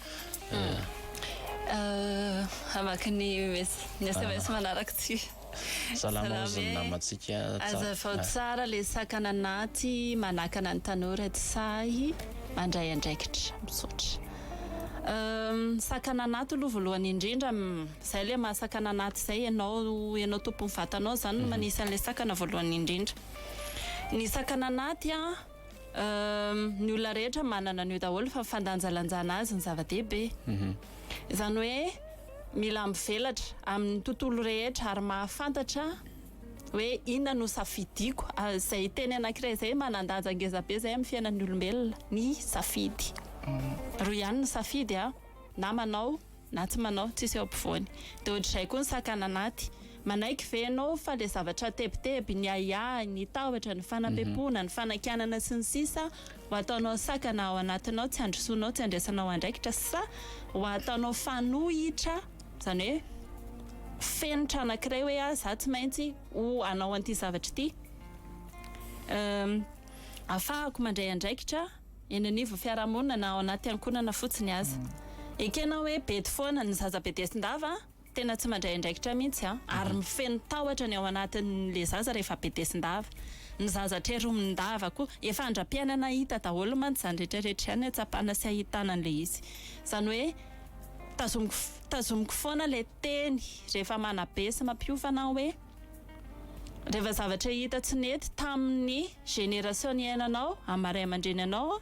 hamaky ny sms manaraka ty salama ozy ny namantsika azavao tsara le sakana anaty manakana ny tanora tsy sahy mandray andraikitra misaotra sakana anaty aloha voalohany indrindra Zay le mahasakana anaty zay enao enao tompony vatanao zany no manisy anle sakana voalohany indrindra ny sakana anaty a ny olona rehetra manana anio daholo fa fandanjalanjana azy ny zava dehibe zany hoe mila mivelatra aminy tontolo rehetra ary mahafantatra hoe inona no safidiko zay teny anakiray zay manandaja ngezabe zay aminy fiainany olombelona ny safidy roa ihany ny safidy a na manao Na tsy manao, tsisy eo ampovoany. Dia ohatr'izay koa ny sakana anaty. Manaiky ve ianao fa ilay zavatra tebiteby, ny ahiahy, ny tahotra, ny fanampepoana, ny fanakianana sy ny sisa ho ataonao sakana ao anatinao, tsy handrosoanao, tsy handraisanao andraikitra, sa ho ataonao fanohitra, izany hoe fenitra anankiray hoe ah, za tsy maintsy ho hanao an'ity zavatra ity, ahafahako mandray andraikitra. eny anivo fiarahamonina na ao anaty ankonana fotsiny aza. Ekena hoe bedy foana ny zaza bedesin-dava a! Tena tsy mandray andraikitra mihitsy a! Ary mifeno tahotra ny ao anatin'le zaza rehefa bedesin-dava. Ny zaza treromin-dava koa. Efa andra-piainana hita daholo mantsy izany rehetra rehetra izany ahatsapana sy ahitana an'le izy. Izany hoe tazomiko tazomiko foana le teny rehefa manabe sy mampiofana aho hoe. Reva zavatra hita tsy nety taminy génération niainanao am maha ray amandreny anao a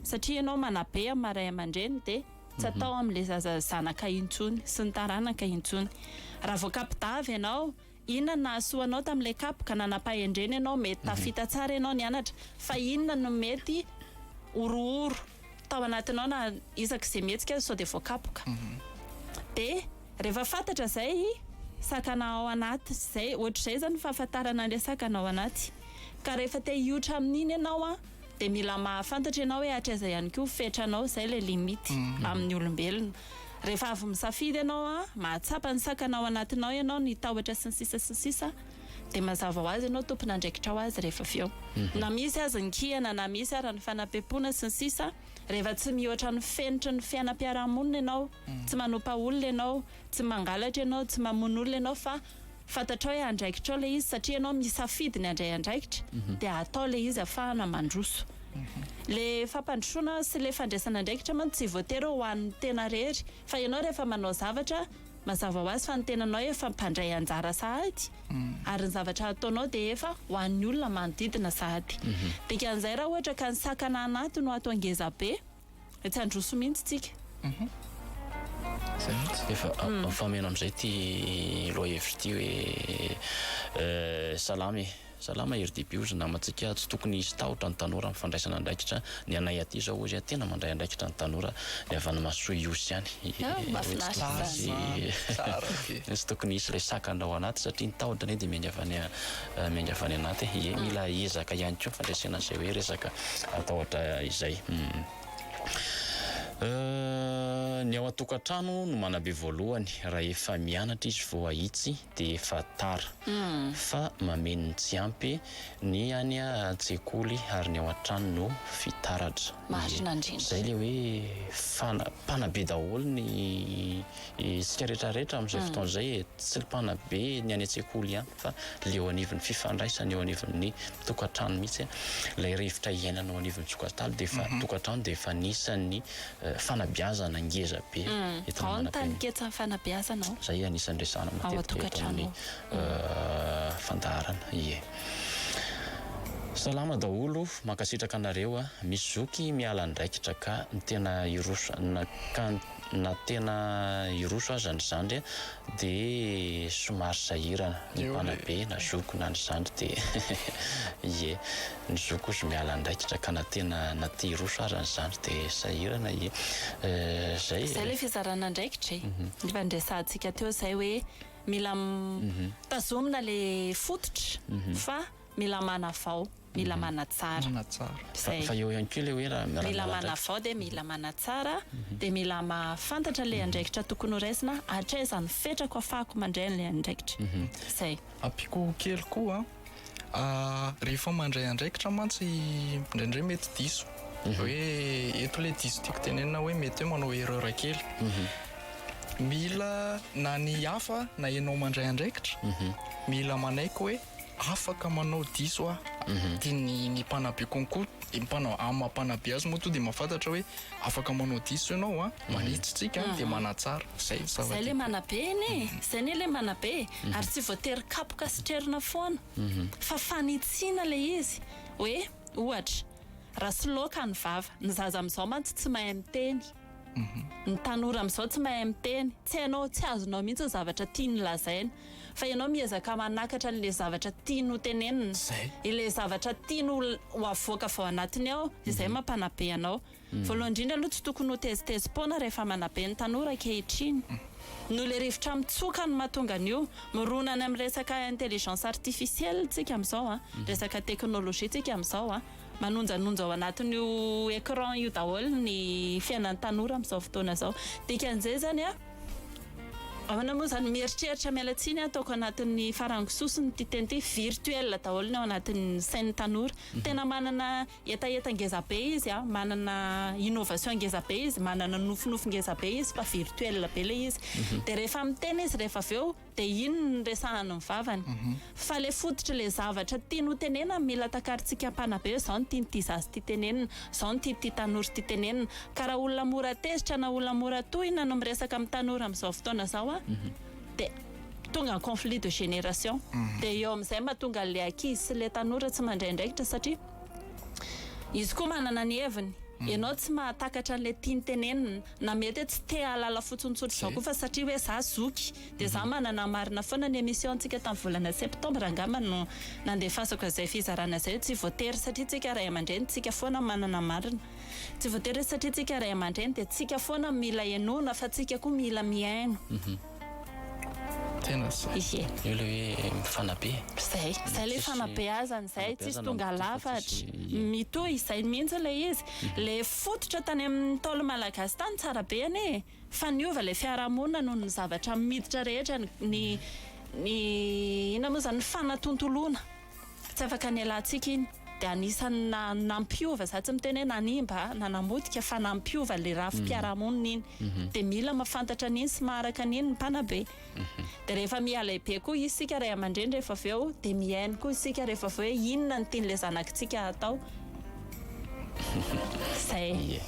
satria ianao manabe am maha ray amandreny de tsy atao am le zaza zanaka intsony sy ny taranaka intsony raha vao kapidavy ianao inona no nahasoa anao tam le kapoka nanapahendrena ianao mety tafita tsara ianao nianatra fa inona no mety horohoro tao anatinao na isaky izay mihetsika aza sao dia voakapoka mhm. dia rehefa fantatra izay sakana ao anaty izay ohatr'izay zany fahafantarana an'ilay sakana ao anaty ka rehefa te hiotra amin'iny ianao a dia mila mahafantatra ianao hoe hatraiza ihany koa fetranao izay ilay limite mhm. amin'ny olombelona rehefa avy misafidy ianao a mahatsapa ny sakana ao anatinao ianao ny tahotra sy ny sisa sy ny sisa dia mazava ho azy ianao tompon'andraikitra ho azy rehefa avy eo. Na misy aza ny kiana, na misy ara ny fanapempoana sy ny sisa, rehefa tsy mihoatra ny fenitry ny fiainam-piarahamonina ianao, tsy manompa olona ianao, tsy mangalatra ianao, tsy mamono olona ianao fa fantatrao hoe andraikitrao ilay izy satria ianao misafidy ny handray andraikitra dia atao ilay izy afahana mandroso. Ilay fampandrosoana sy ilay fandraisana andraikitra mantsy tsy voatery ho an'ny tena rery fa ianao rehefa manao zavatra Mazava ho azy fa ny tenanao efa mpandray anjara sahady ary ny zavatra ataonao dia efa ho an'ny olona manodidina sahady. Dikan'izay raha ohatra ka ny sakana anaty no atao ngeza be dia tsy handroso mihitsy tsika. Izay mihitsy. Efa mifameno amin'izay ity lohahevitra ity hoe salama e. Salama hery DB ozy namantsika tsy tokony hisy tahotra ny tanora am fandraisana andraikitra ny anay aty zao ozy a tena mandray andraikitra ny tanora ny avy any masoa iosy ihany oe tsy tokony hisy tsy tokony hisy le sakana ao anaty satria ny tahotra anie dia miainga avy any miainga avy any anaty e ie mila ezaka ihany koa fandresena an'izay oe resaka tahotra izay ny ao an-tokantrano no manabe voalohany rahefa mianatra izy vao hahitsy dia efa tara fa mameno ny tsy ampy ny any an-tsekoly ary ny ao an-trano no fitaratra. Marina indrindra. Izay ilay hoe fana, mpanabe daholo ny isika rehetra rehetra amin'izay fotoana izay e, tsy ny mpanabe ny any an-tsekoly ihany fa ilay eo anivon'ny fifandraisana eo anivon'ny tokantrano mihitsy, ilay rivotra iainana ao anivon'ny tsokatalo dia efa, tokantrano dia efa anisan'ny fanabeazana ngeza be eto Ao ny taninketsan'ny fanabeazana ao. Zay anisan'ny resahana matetika eto amin'ny fandaharana ie. Salama daholo, mankasitraka anareo a. Misy zoky miala andraikitra ka ny tena hiroso na ka na tena hiroso aza ny zandry a de somary sahirana ny mpanabe na zoky na ny zandry de ie. ny zo kosa miala andraikitra ka na tena na te hiroso aza ny zandry de sahirana ee zay Zay le fizarana andraikitra e! Efa niresahantsika teo zay hoe mila tazomina le fototra fa mila manavao, mila manatsara. Manatsara. Zay. Fa eo ihany koa le hoe raha Mila manavao dia mila manatsara dia mila mahafantatra le andraikitra tokony ho raisina hatraiza no fetrako afahako mandray an'ilay andraikitra. Zay. Ampiako kely koa an! Rehefa mandray andraikitra mantsy indraindray mety diso hoe eto le diso tiako tenenina hoe mety hoe manao erreur kely mhm. mila na ny hafa na ianao mandray andraikitra mhm. mila manaiky hoe afaka manao diso aho mhm. dia ny ny mpanabe konko ny mpanao amam-panabe azy moa to dia mahafantatra hoe Afaka manao diso ianao a, manitsy tsika dia manatsara, zay ny zava-dehibe. Zay le manabe anie e, zay anie le manabe e, ary tsy voatery kapoka sy trerona foana fa fanitsiana le izy hoe ohatra raha soloaka ny vava, ny zaza amizao mantsy tsy mahay miteny, ny tanora amizao tsy mahay miteny, tsy hainao, tsy azonao mihitsy ny zavatra tiany lazaina, Fa ianao miezaka manakatra an'ilay zavatra tiany ho tenenina. Izay. Ilay zavatra tiany ho ho avoaka avy ao anatiny ao, izay mampanabe anao. Voalohany indrindra aloha tsy tokony ho tezitezi-poana rehefa manabe ny tanora ankehitriny. Noho ilay rivotra mitsoka no mahatonga an'io. Mirona any amin'ny resaka intelligence artificielle isika amin'izao a, resaka teknolojia isika amin'izao a. Manonjanonja ao anatin'io écran io daholo ny fiainan'ny tanora amin'izao fotoana izao. Dikan'izay izany a. Ahoana moa izany mieritreritra miala tsiny aho taoko anatin'ny farango sosony ity teny ity virtuel daholo ny ao anatin'ny sain'ny tanora mhm. tena manana hetaheta ngeza be izy a manana innovation ngeza be izy manana nofinofy ngeza be izy fa virtuel be le izy mhm. dia rehefa miteny izy rehefa avy eo de inn ny resahany ny vavany fa le fototry le zavatra tiany ho tenenany mila takarintsika mpanabe zao ny tian'ity zaza ity tenenina zao ny tian'ity tanora ity tenenina ka raha olona mora tezitra na olona mora tohina no miresaka amin'ny tanora amin'izao fotoana zao a de tonga conflit de génération de eo amin'izay mahatonga an'le ankizy sy le tanora tsy mandray andraikitra satria izy koa manana ny heviny ianao tsy mahatakatra an'le tiany tenenina Na mety tsy te hahalala fotsiny tsotra izao koa fa satria hoe za zoky dia za manana ny marina foana ny emission ntsika tamin'ny volana septembre angamba no nandefasako izay fizarana izay tsy voatery satria tsika ray aman-dreny tsika foana manana marina tsy voatery satria tsika ray aman-dreny dia tsika foana mila henoina fa tsika koa mila mihaino Tena zay. Ie. Io le hoe mifanabe. Zay. Zay le fanabeazana zay. Tsisy tonga lafatra. Mitohy izay mihitsy ilay izy. Le fototra tany amin'ny ntaolo malagasy tany tsara be anie e. Fa niova le fiarahamonina noho ny zavatra miditra rehetra ny ny inona moa zany ny fanatontoloana. Tsy afaka nialantsika iny dia anisan'ny nampiova, za tsy miteny hoe nanimba na namotika fa nampiova le rafi-piarahamonina iny mhm. dia mila mafantatra an'iny sy maharaka an'iny ny mpanabe mhm. dia rehefa mihalaibe koa isika ray aman-dreny rehefa avy eo dia mihaino koa isika rehefa avy eo hoe inona ny tian'ilay zanakitsika hatao zay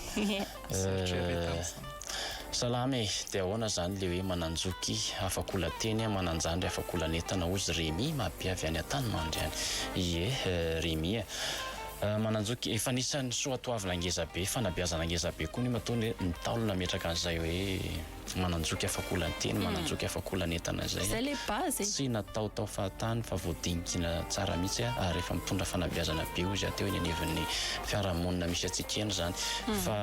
Salama e! Dia ahoana izany ilay hoe Mananjoky afa-kola teny, Mananjandry afa-kola an'entana hozy Remy Mabe avy any Antanimandry any. Ie Remy a! Mananjoky efa anisan'ny soatoavina ngezabe, fanabeazana ngezabe koa ny matoa ny Ntaolo nametraka an'izay hoe. Mananjoky afakolan-teny, mananjoky afakolan'entana izay. Izay ilay base e! Tsy natao tao fahatany fa voadinikina tsara mihitsy ary efa mitondra fanabeazana be hoy izy aho teo eny anivon'ny fiarahamonina misy antsika eny izany fa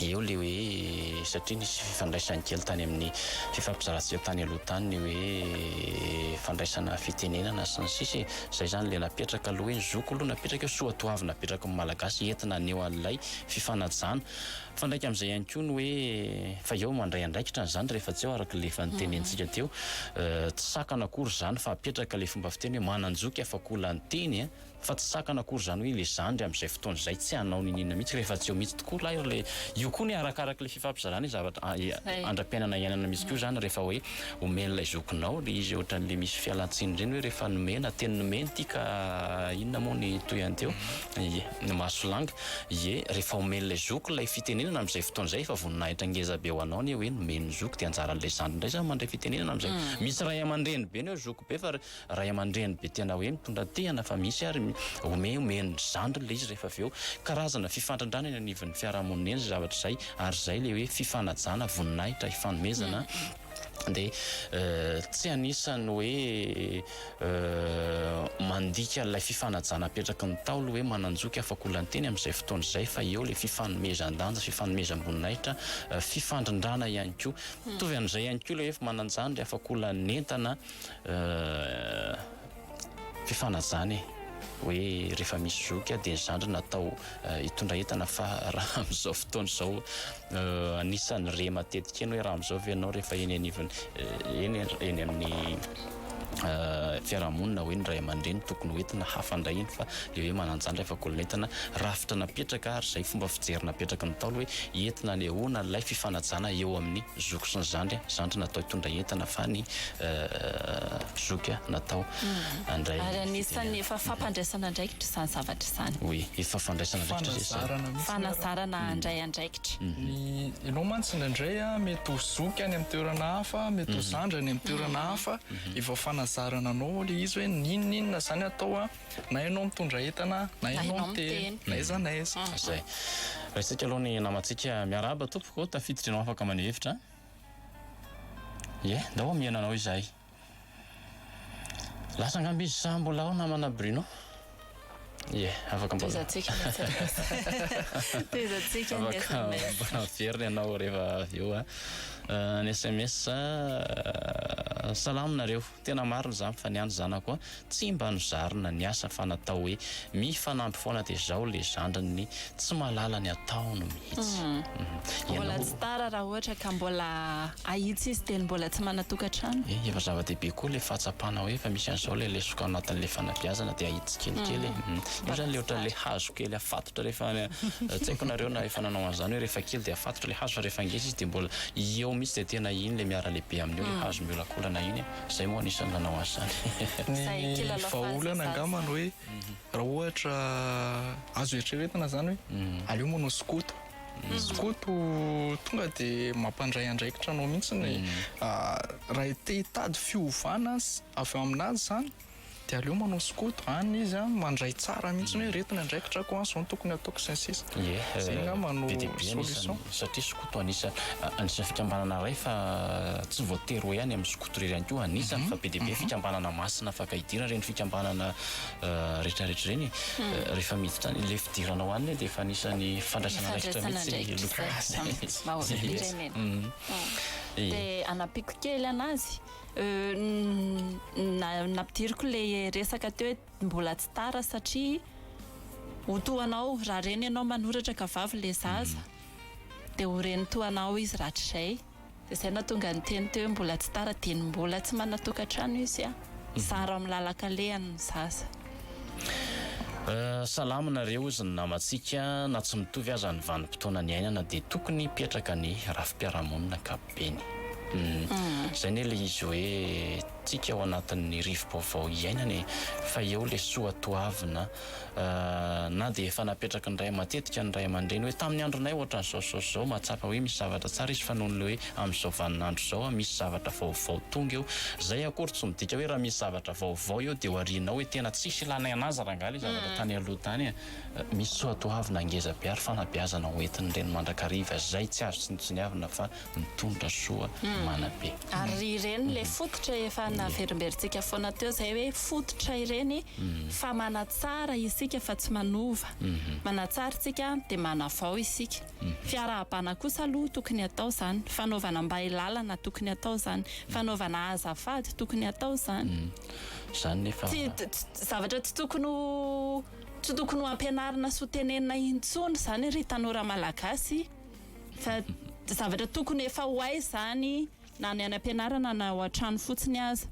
eo ilay hoe satria nisy fifandraisany kely tany amin'ny fifampizarantsika tany aloha tany ny hoe fandraisana fitenenana sy ny sisa e! Izay izany ilay napetraka aloha hoe ny zoko aloha napetraka eo, soatoavina apetraky ny Malagasy entina haneho an'ilay fifanajana. Mifandraika amin'izay ihany koa ny hoe fa eo mandray andraikitra an'izany rehefa tsy eo araka ilay efa notenenintsika teo. Tsy sakana akory izany fa apetraka ilay fomba fiteny hoe manan-joky afa-kola ny teny a! Fa tsy sakana akory izany hoe ilay zandry amin'izay fotoana izay tsy hanao n'inon'inona mihitsy rehefa tsy eo mihitsy tokoa ilay ry le. Io koa ny arakaraka ilay fifampizarana ilay zavatra andra-piainana iainana mihitsy koa izany rehefa hoe omena ilay zokinao ilay izy ohatran'ilay misy fialan-tsiny ireny hoe rehefa nomena teny nomena ity ka inona moa ny tohiny teo? Ie, ny mahasolanga. Ie, rehefa omen'ilay zoky ilay fitenenana amin'izay fotoana izay, efa voninahitra ngeza be ho anao anie hoe nomeny ny zoky, dia anjaran'ilay zandry indray izany mandray fitenenana amin'izay. Misy ray aman-dreny be neho zoky be, fa ray aman-dreny be tena hoe mitondra tehana fa misy ary ome omen'ny zandriny ilay izy rehefa avy eo. Karazana fifandrandrana eny anivon'ny fiarahamonina eny izay zavatra izay, ary izay ilay hoe fifanajana, voninahitra, hifanomezana. dia tsy anisan'ny hoe mandika an'ilay fifanajana apetraky ny Ntaolo hoe manan-joky afakolan-teny amin'izay fotoana izay fa eo ilay fifanomezan-danja, fifanomezam-boninahitra, fifandrindrana ihany koa. Mitovy amin'izay ihany koa ilay hoe manan-jandry afakolan'ny entana. fifanajana e! hoe rehefa misy zoky a dia ny zandriny atao hitondra entana fa raha amin'izao fotoana izao anisan'ny re matetika eny hoe raha amin'izao ve ianao rehefa eny anivon'ny eny eny amin'ny fiarahamonina hoe ny ray aman-dreny tokony ho entina hafa indray iny fa le hoe manan-jandry afa-kolon'entana rafitra napetraka ary izay fomba fijery napetraky ny ntaolo hoe entina anehoana ilay fifanajana eo amin'ny zoky sy ny zandry zandry natao hitondra entana fa ny zoky natao handray ary anisan'ny efa fampandraisana andraikitra izany zavatra izany oui efa fandraisana andraikitra zay fanazarana mihitsy fanazarana handray andraikitra ny ianao mantsy indraindray mety ho zoky any amin'ny toerana hafa mety ho zandry any amin'ny toerana hafa efa fanazarana anao ilay izy hoe n'inon'inona izany atao Na ianao mitondra entana na ianao miteny na aiza na aiza. Zay. Raisintsika aloha ny namantsika. Miarahaba tompoko, tafiditra ianao afaka maneho hevitra. Ie, ndao omihana anao izahay. Lasa angamba izy sa mbola ao namana Bruno? Ie, afaka mbola. Tohizantsika ny aiza na aiza. Tohizantsika ny aiza na aiza. Afaka miverina ianao rehefa avy eo. Ny sms, Salama nareo. Tena marina izany fa ny any zanako a tsy mba nozarina ny asa fa natao hoe mifanampy foana dia zao le zandriny tsy mahalala ny ataony mihitsy Mbola tsy tara raha ohatra ka mbola ahitsy izy teny mbola tsy manatokatrano. Eh efa zava-dehibe koa le fahatsapana hoe efa misy an'izao le lesoka ao anatin'le fanabeazana dia ahitsy tsikelikely eh Io zany le ohatra le hazo kely afatotra rehefa tsy haiko nareo na efa nanao an'izany hoe rehefa kely dia afatotra le hazo fa rehefa ngeza izy dia mbola eo mihitsy dia tena iny le miara-lehibe amin'io le hazo miolakolana iny zay moa anisany nanao azy zany ny vahaolana angambany hoe raha ohatra azo eritreretina zany hoe aleo manao skoto skoto tonga de mampandray andraikitra anao mihitsy ny raha te hitady fiovana avy ao aminazy zany Dia aleo manao skoto any izy an, mandray tsara mihitsy hoe ireto ny andraikitrako an, izao no tokony hataoko sy ny sisa. Ie, Izay angamba no be dia be anisany solution. satria skoto anisa anisany fikambanana iray fa tsy voatery hoe any amin'ny skoto irery ihany koa anisany fa be dia be fikambanana masina afaka hidirana ireny fikambanana rehetrarehetra ireny e. Rehefa miditra any, ilay fidirana ao aminy dia efa anisany fandraisana andraikitra mihitsy ny loka. Izay mihitsy. Dia hanampiako kely anazy, Nampidiriko le resaka teo hoe mbola tsy tara satria ho toa anao raha reny ianao manoratra ka vavy le zaza hmm. dia ho reny toa anao izy rahatrizay dia izay natonga ny teny teo hoe mbola tsy tara dia ny mbola tsy manatokantrano izy a hmm. zara amin'ny lalankalehany ny zaza Euh, salama nareo izy ny namantsika na tsy mitovy aza ny vanimpotoana niainana dia tokony hipetraka ny rafi-piarahamonina kap Beny. Zay ne le izy hoe tsika ao anatin'ny rivo-baovao iainana e! Fa eo le soa toavina na dia efa napetraky ny ray matetika ny ray aman-dreny hoe tamin'ny andronay ohatran'izao zao sy zao mahatsapa hoe misy zavatra tsara izy fa nohon'le hoe amin'izao vaninandro izao a misy zavatra vaovao tonga eo zay akory tsy midika hoe raha misy zavatra vaovao eo de ho arianao hoe tena tsisy ilànay anazy rangaha le zavatra tany aloha tany e! Misy soatoavina ngezabe ary fanabeazana ho entin'ny reny mandrakariva izay tsy azo tsinontsiniavina fa mitondra soa manabe. Ary ry reny le fototra efa naverimberintsika foana teo zay hoe fototra ireny fa manatsara isika fa tsy manova, manatsara isika de manavao isika. Fiarahabana kosa aloha tokony atao zany, fanaovana mbay lalana tokony atao zany, fanaovana azafady tokony atao zany. Zany nefa. Tsy zavatra tsy tokony ho. Tsy tokony ho ampianarina sy ho tenenina intsony izany ry tanora malagasy fa zavatra tokony efa ho hay izany na any ampianarana na ao an-trano fotsiny aza.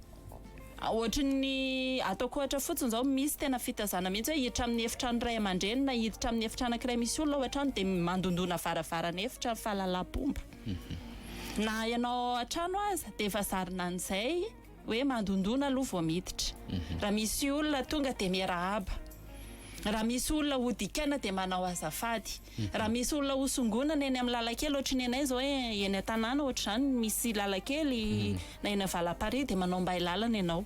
Ohatry ny ataoko ohatra fotsiny izao misy tena fitazana mihitsy hoe hiditra amin'ny efitrano iray aman-dreny na hiditra amin'ny efitrano ankiray misy olona ao an-trano dia mandondona varavaran'efitra fahalalam-pomba. Na ianao ao an-trano aza dia efa zarina an'izay. hoe mandondona aloha vao miditra, raha misy olona tonga dia miarahaba, raha misy olona ho dikaina dia manao azafady, raha misy olona ho songonana eny amin'ny lalan-kely ohatry ny anay izao eny an-tanàna ohatra izany misy lalan-kely na eny Valaparihy dia manao mbay lalana ianao,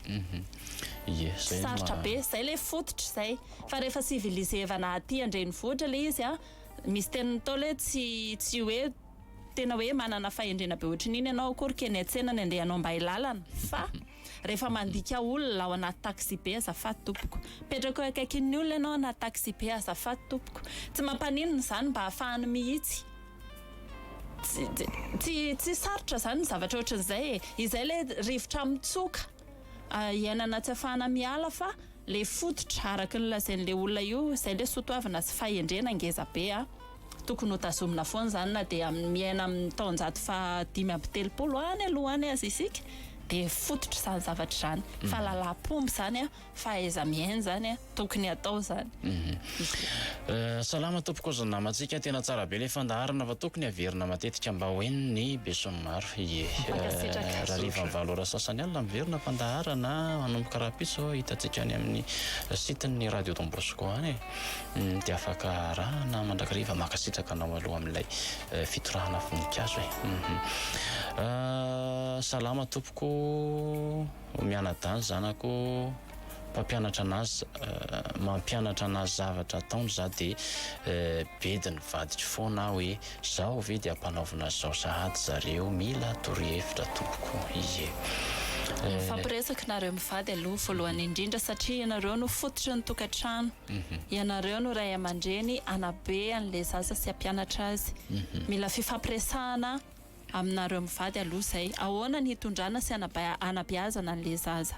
sarotra be, izay ilay fototra izay fa rehefa civilisevana aty an-drenivohitra ilay izy an, misy teny natao ilay hoe tsy hoe. Tena hoe manana fahendrena be ohatrin'iny ianao akory keny an-tsena ny andehanao mba hilalana fa rehefa mandika olona ao anaty taxi-be azafady tompoko. Mipetraka eo akaikin'ny olona ianao anaty taxi-be azafady tompoko. Tsy mampaninona izany mba hafahany mihitsy. Tsy tsy sarotra izany ny zavatra ohatrin'izay e. Izay ilay rivotra mitsoka iainana tsy afahana miala fa. Le fototra araky ny lazain le olona io zay le sotoavina sy fahendrena ngeza be a! Tokony ho tazomina foana zany na dia amin miaina amin ny taonjato faha dimy amby telopolo any aloha any aza isika de fototra zany zavatra zany fa lalam pomba zany a! Fahaiza mihaino zany a! Tokony atao zany. Salama tompoko ozy namantsika tena tsara be le fandaharana fa tokony averina matetika mba ho eny ny besin'ny maro ye rariva ny valo ora sasany alina miverina fandaharana manomboka rahampitso hitantsika any amin'ny site ny radio Don Bosco any hmm, dia afaka arahana mandrakariva makasitraka anao aloha amin'ilay eh, fitorahana voninkazo e mhm. ah, salama tompoko mianadany zanako mpampianatra anazy mampianatra anazy zavatra ataony za de bedy ny vadiko foana aho hoe zao ve de ampanaovina azy zao sahady zareo mila torohevitra tompoko ie mifampiresaka nareo mivady aloha voalohany indrindra satria ianareo no fototry ny tokatrano ianareo no ray amandreny anabe anle zaza sy ampianatra azy mila fifampiresahana Aminareo mivady aloha zay ahoana ny hitondrana sy hanabeazana anle zaza.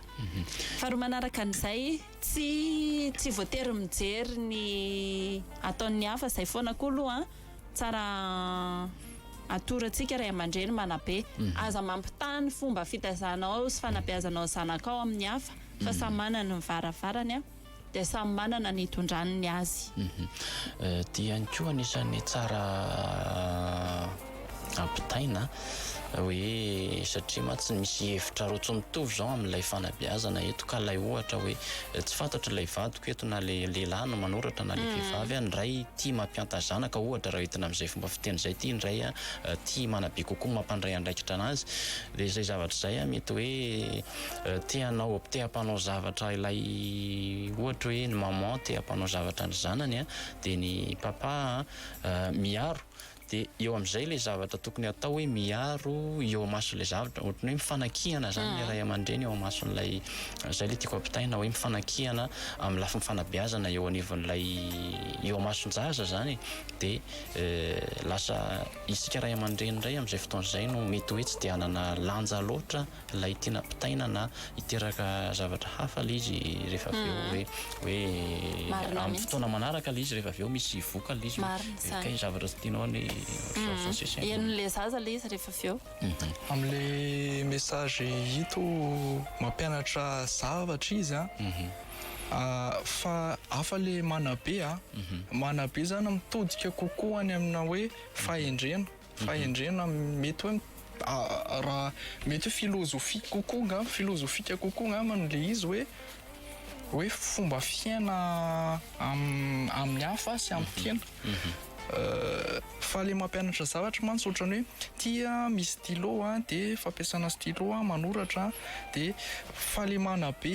Faharoa manaraka an'izay tsy tsy voatery mijery ny ataon'ny hafa zay foana koa aloha an! Tsara atorantsika ray aman-dreny manabe. Aza mampitaha ny fomba fitaizanao sy fanabeazanao ny zanakao amin'ny hafa fa samy manana ny varavarany an! dia samy manana ny hitondrany ny azy. Ity ihany koa anisan'ny tsara ampitaina hoe satria mantsy misy hevitra roa tsy mitovy izao amin'ilay fanabeazana eto ka ilay ohatra hoe tsy fantatro ilay vadiko eto na le lehilahy no manoratra na le mm. vehivavy any ray tia mampianta zanaka ohatra raha entina amin'izay fomba fiteny izay tia indray a tia manabe kokoa mampandray andraikitra anazy dia izay zavatra izay a mety hoe te hanao te hampanao zavatra ilay ohatra hoe ny maman te hampanao zavatra ny zanany a dia ny papa miaro dia eo amin'izay ilay zavatra tokony atao hoe miaro eo amason'ilay zavatra ohatrany hoe mifanakihana izany ilay ah. ray aman-dreny eo amason'ilay izay ilay tiako ampitaina hoe mifanakihana amin'ny lafiny fanabeazana eo anivon'ilay eo amason-jaza izany dia eh, lasa isika ray aman-dreny indray amin'izay fotoana izay no mety hoe tsy dia hanana lanja loatra ilay tiana ampitaina na hiteraka zavatra hafa ilay izy rehefa avy eo hoe hoe amin'ny fotoana manaraka ilay izy rehefa avy eo misy voka ilay izy hoe kay zavatra tsy tianao ny enon'ilay zaza ilay izy rehefa avy eo amin'ilay message ito mampianatra zavatra izy a fa hafa ilay manabe a manabe izany mitodika kokoa any amina hoe fahendrena Fahendrena mety hoe raha mety hoe filozofia kokoa angamba, filozofika kokoa angamba no le izy hoe hoe fomba fiaina amin'ny hafa sy amin'ny tena. Fa le mampianatra zavatra mantsy ohatran'ny hoe ty misy stylo de fampiasana stylo manoratra de fa le manabe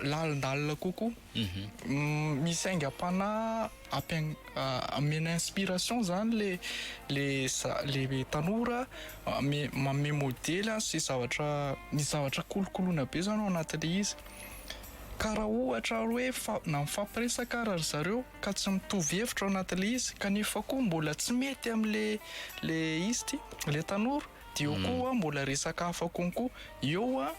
lalindalina kokoa. Misy aingam-panahy ampiain- amena inspiration zany le le za- le tanora ame- manome modely an sy zavatra misy zavatra kolokoloina be zany ao anatin'le izy ka raha ohatra ary hoe fa- na mifampiresaka ary ry zareo ka tsy mitovy hevitra ao anatin'le izy kanefa koa mbola tsy mety amle le izy ty le tanora de eo koa mbola resaka hafa konko eo an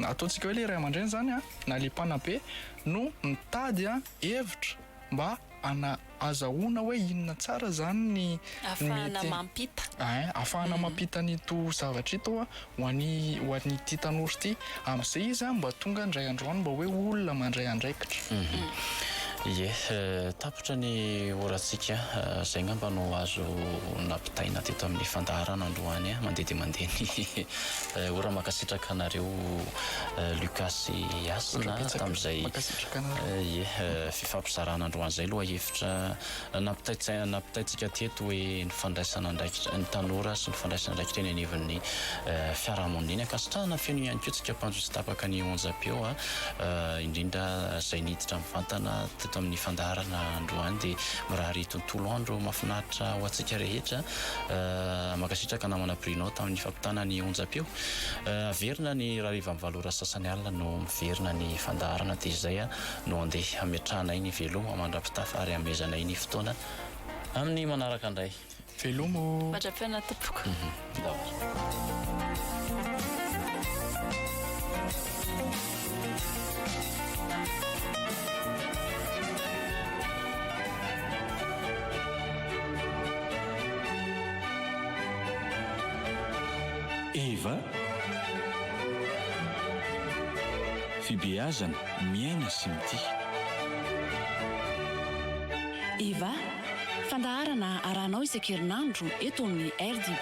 ataontsika hoe le ray aman-dreny zany a na le mpanabe no mitady a hevitra mba ana- azahoana hoe inona tsara zany ny Afahana mety mampita. ein afahana mampita an'ito zavatra ito a ho an'i ho an'ity tanora ity am'zay izy a mba tonga indray andro any mba hoe olona mandray andraikitra. Ie, tapitra ny orantsika, zay ngamba no azo nampitaina teto amin'ny fandaharana androany a, mandeha dia mandeha ny Ora makasitraka anareo Lucas sy Hasina tamzay ye fifampizarana androany zay lohahevitra nampitaitsaina nampitaitsika teto hoe ny fandraisana andraikitra ny tanora sy ny fandraisana andraikitra eny anivon'ny fiarahamonina eny ankasitrahana feno ihany koa tsika mpanjo tsy tapaka ny onjam-peo a indrindra zay niditra mivantana teto amin'ny fandaharana androany dia mirary tontolo andro mafinaritra ho antsika rehetra Mankasitraka namana Bruno tamin'ny fampitana ny onjam-peo. Averina ny hariva amin'ny valo ora sy sasany alina no miverina ny fandaharana dia izay no handeha hametrahanay ny velomo mandra-pitafa ary hamehezanay ny fotoana amin'ny manaraka indray. Velomo mandra-pihaona tompoko. Eva, Fibeazana, miaina sy mitia. Eva, Fandaharana arahanao isan-kerinandro eto amin'ny RDB.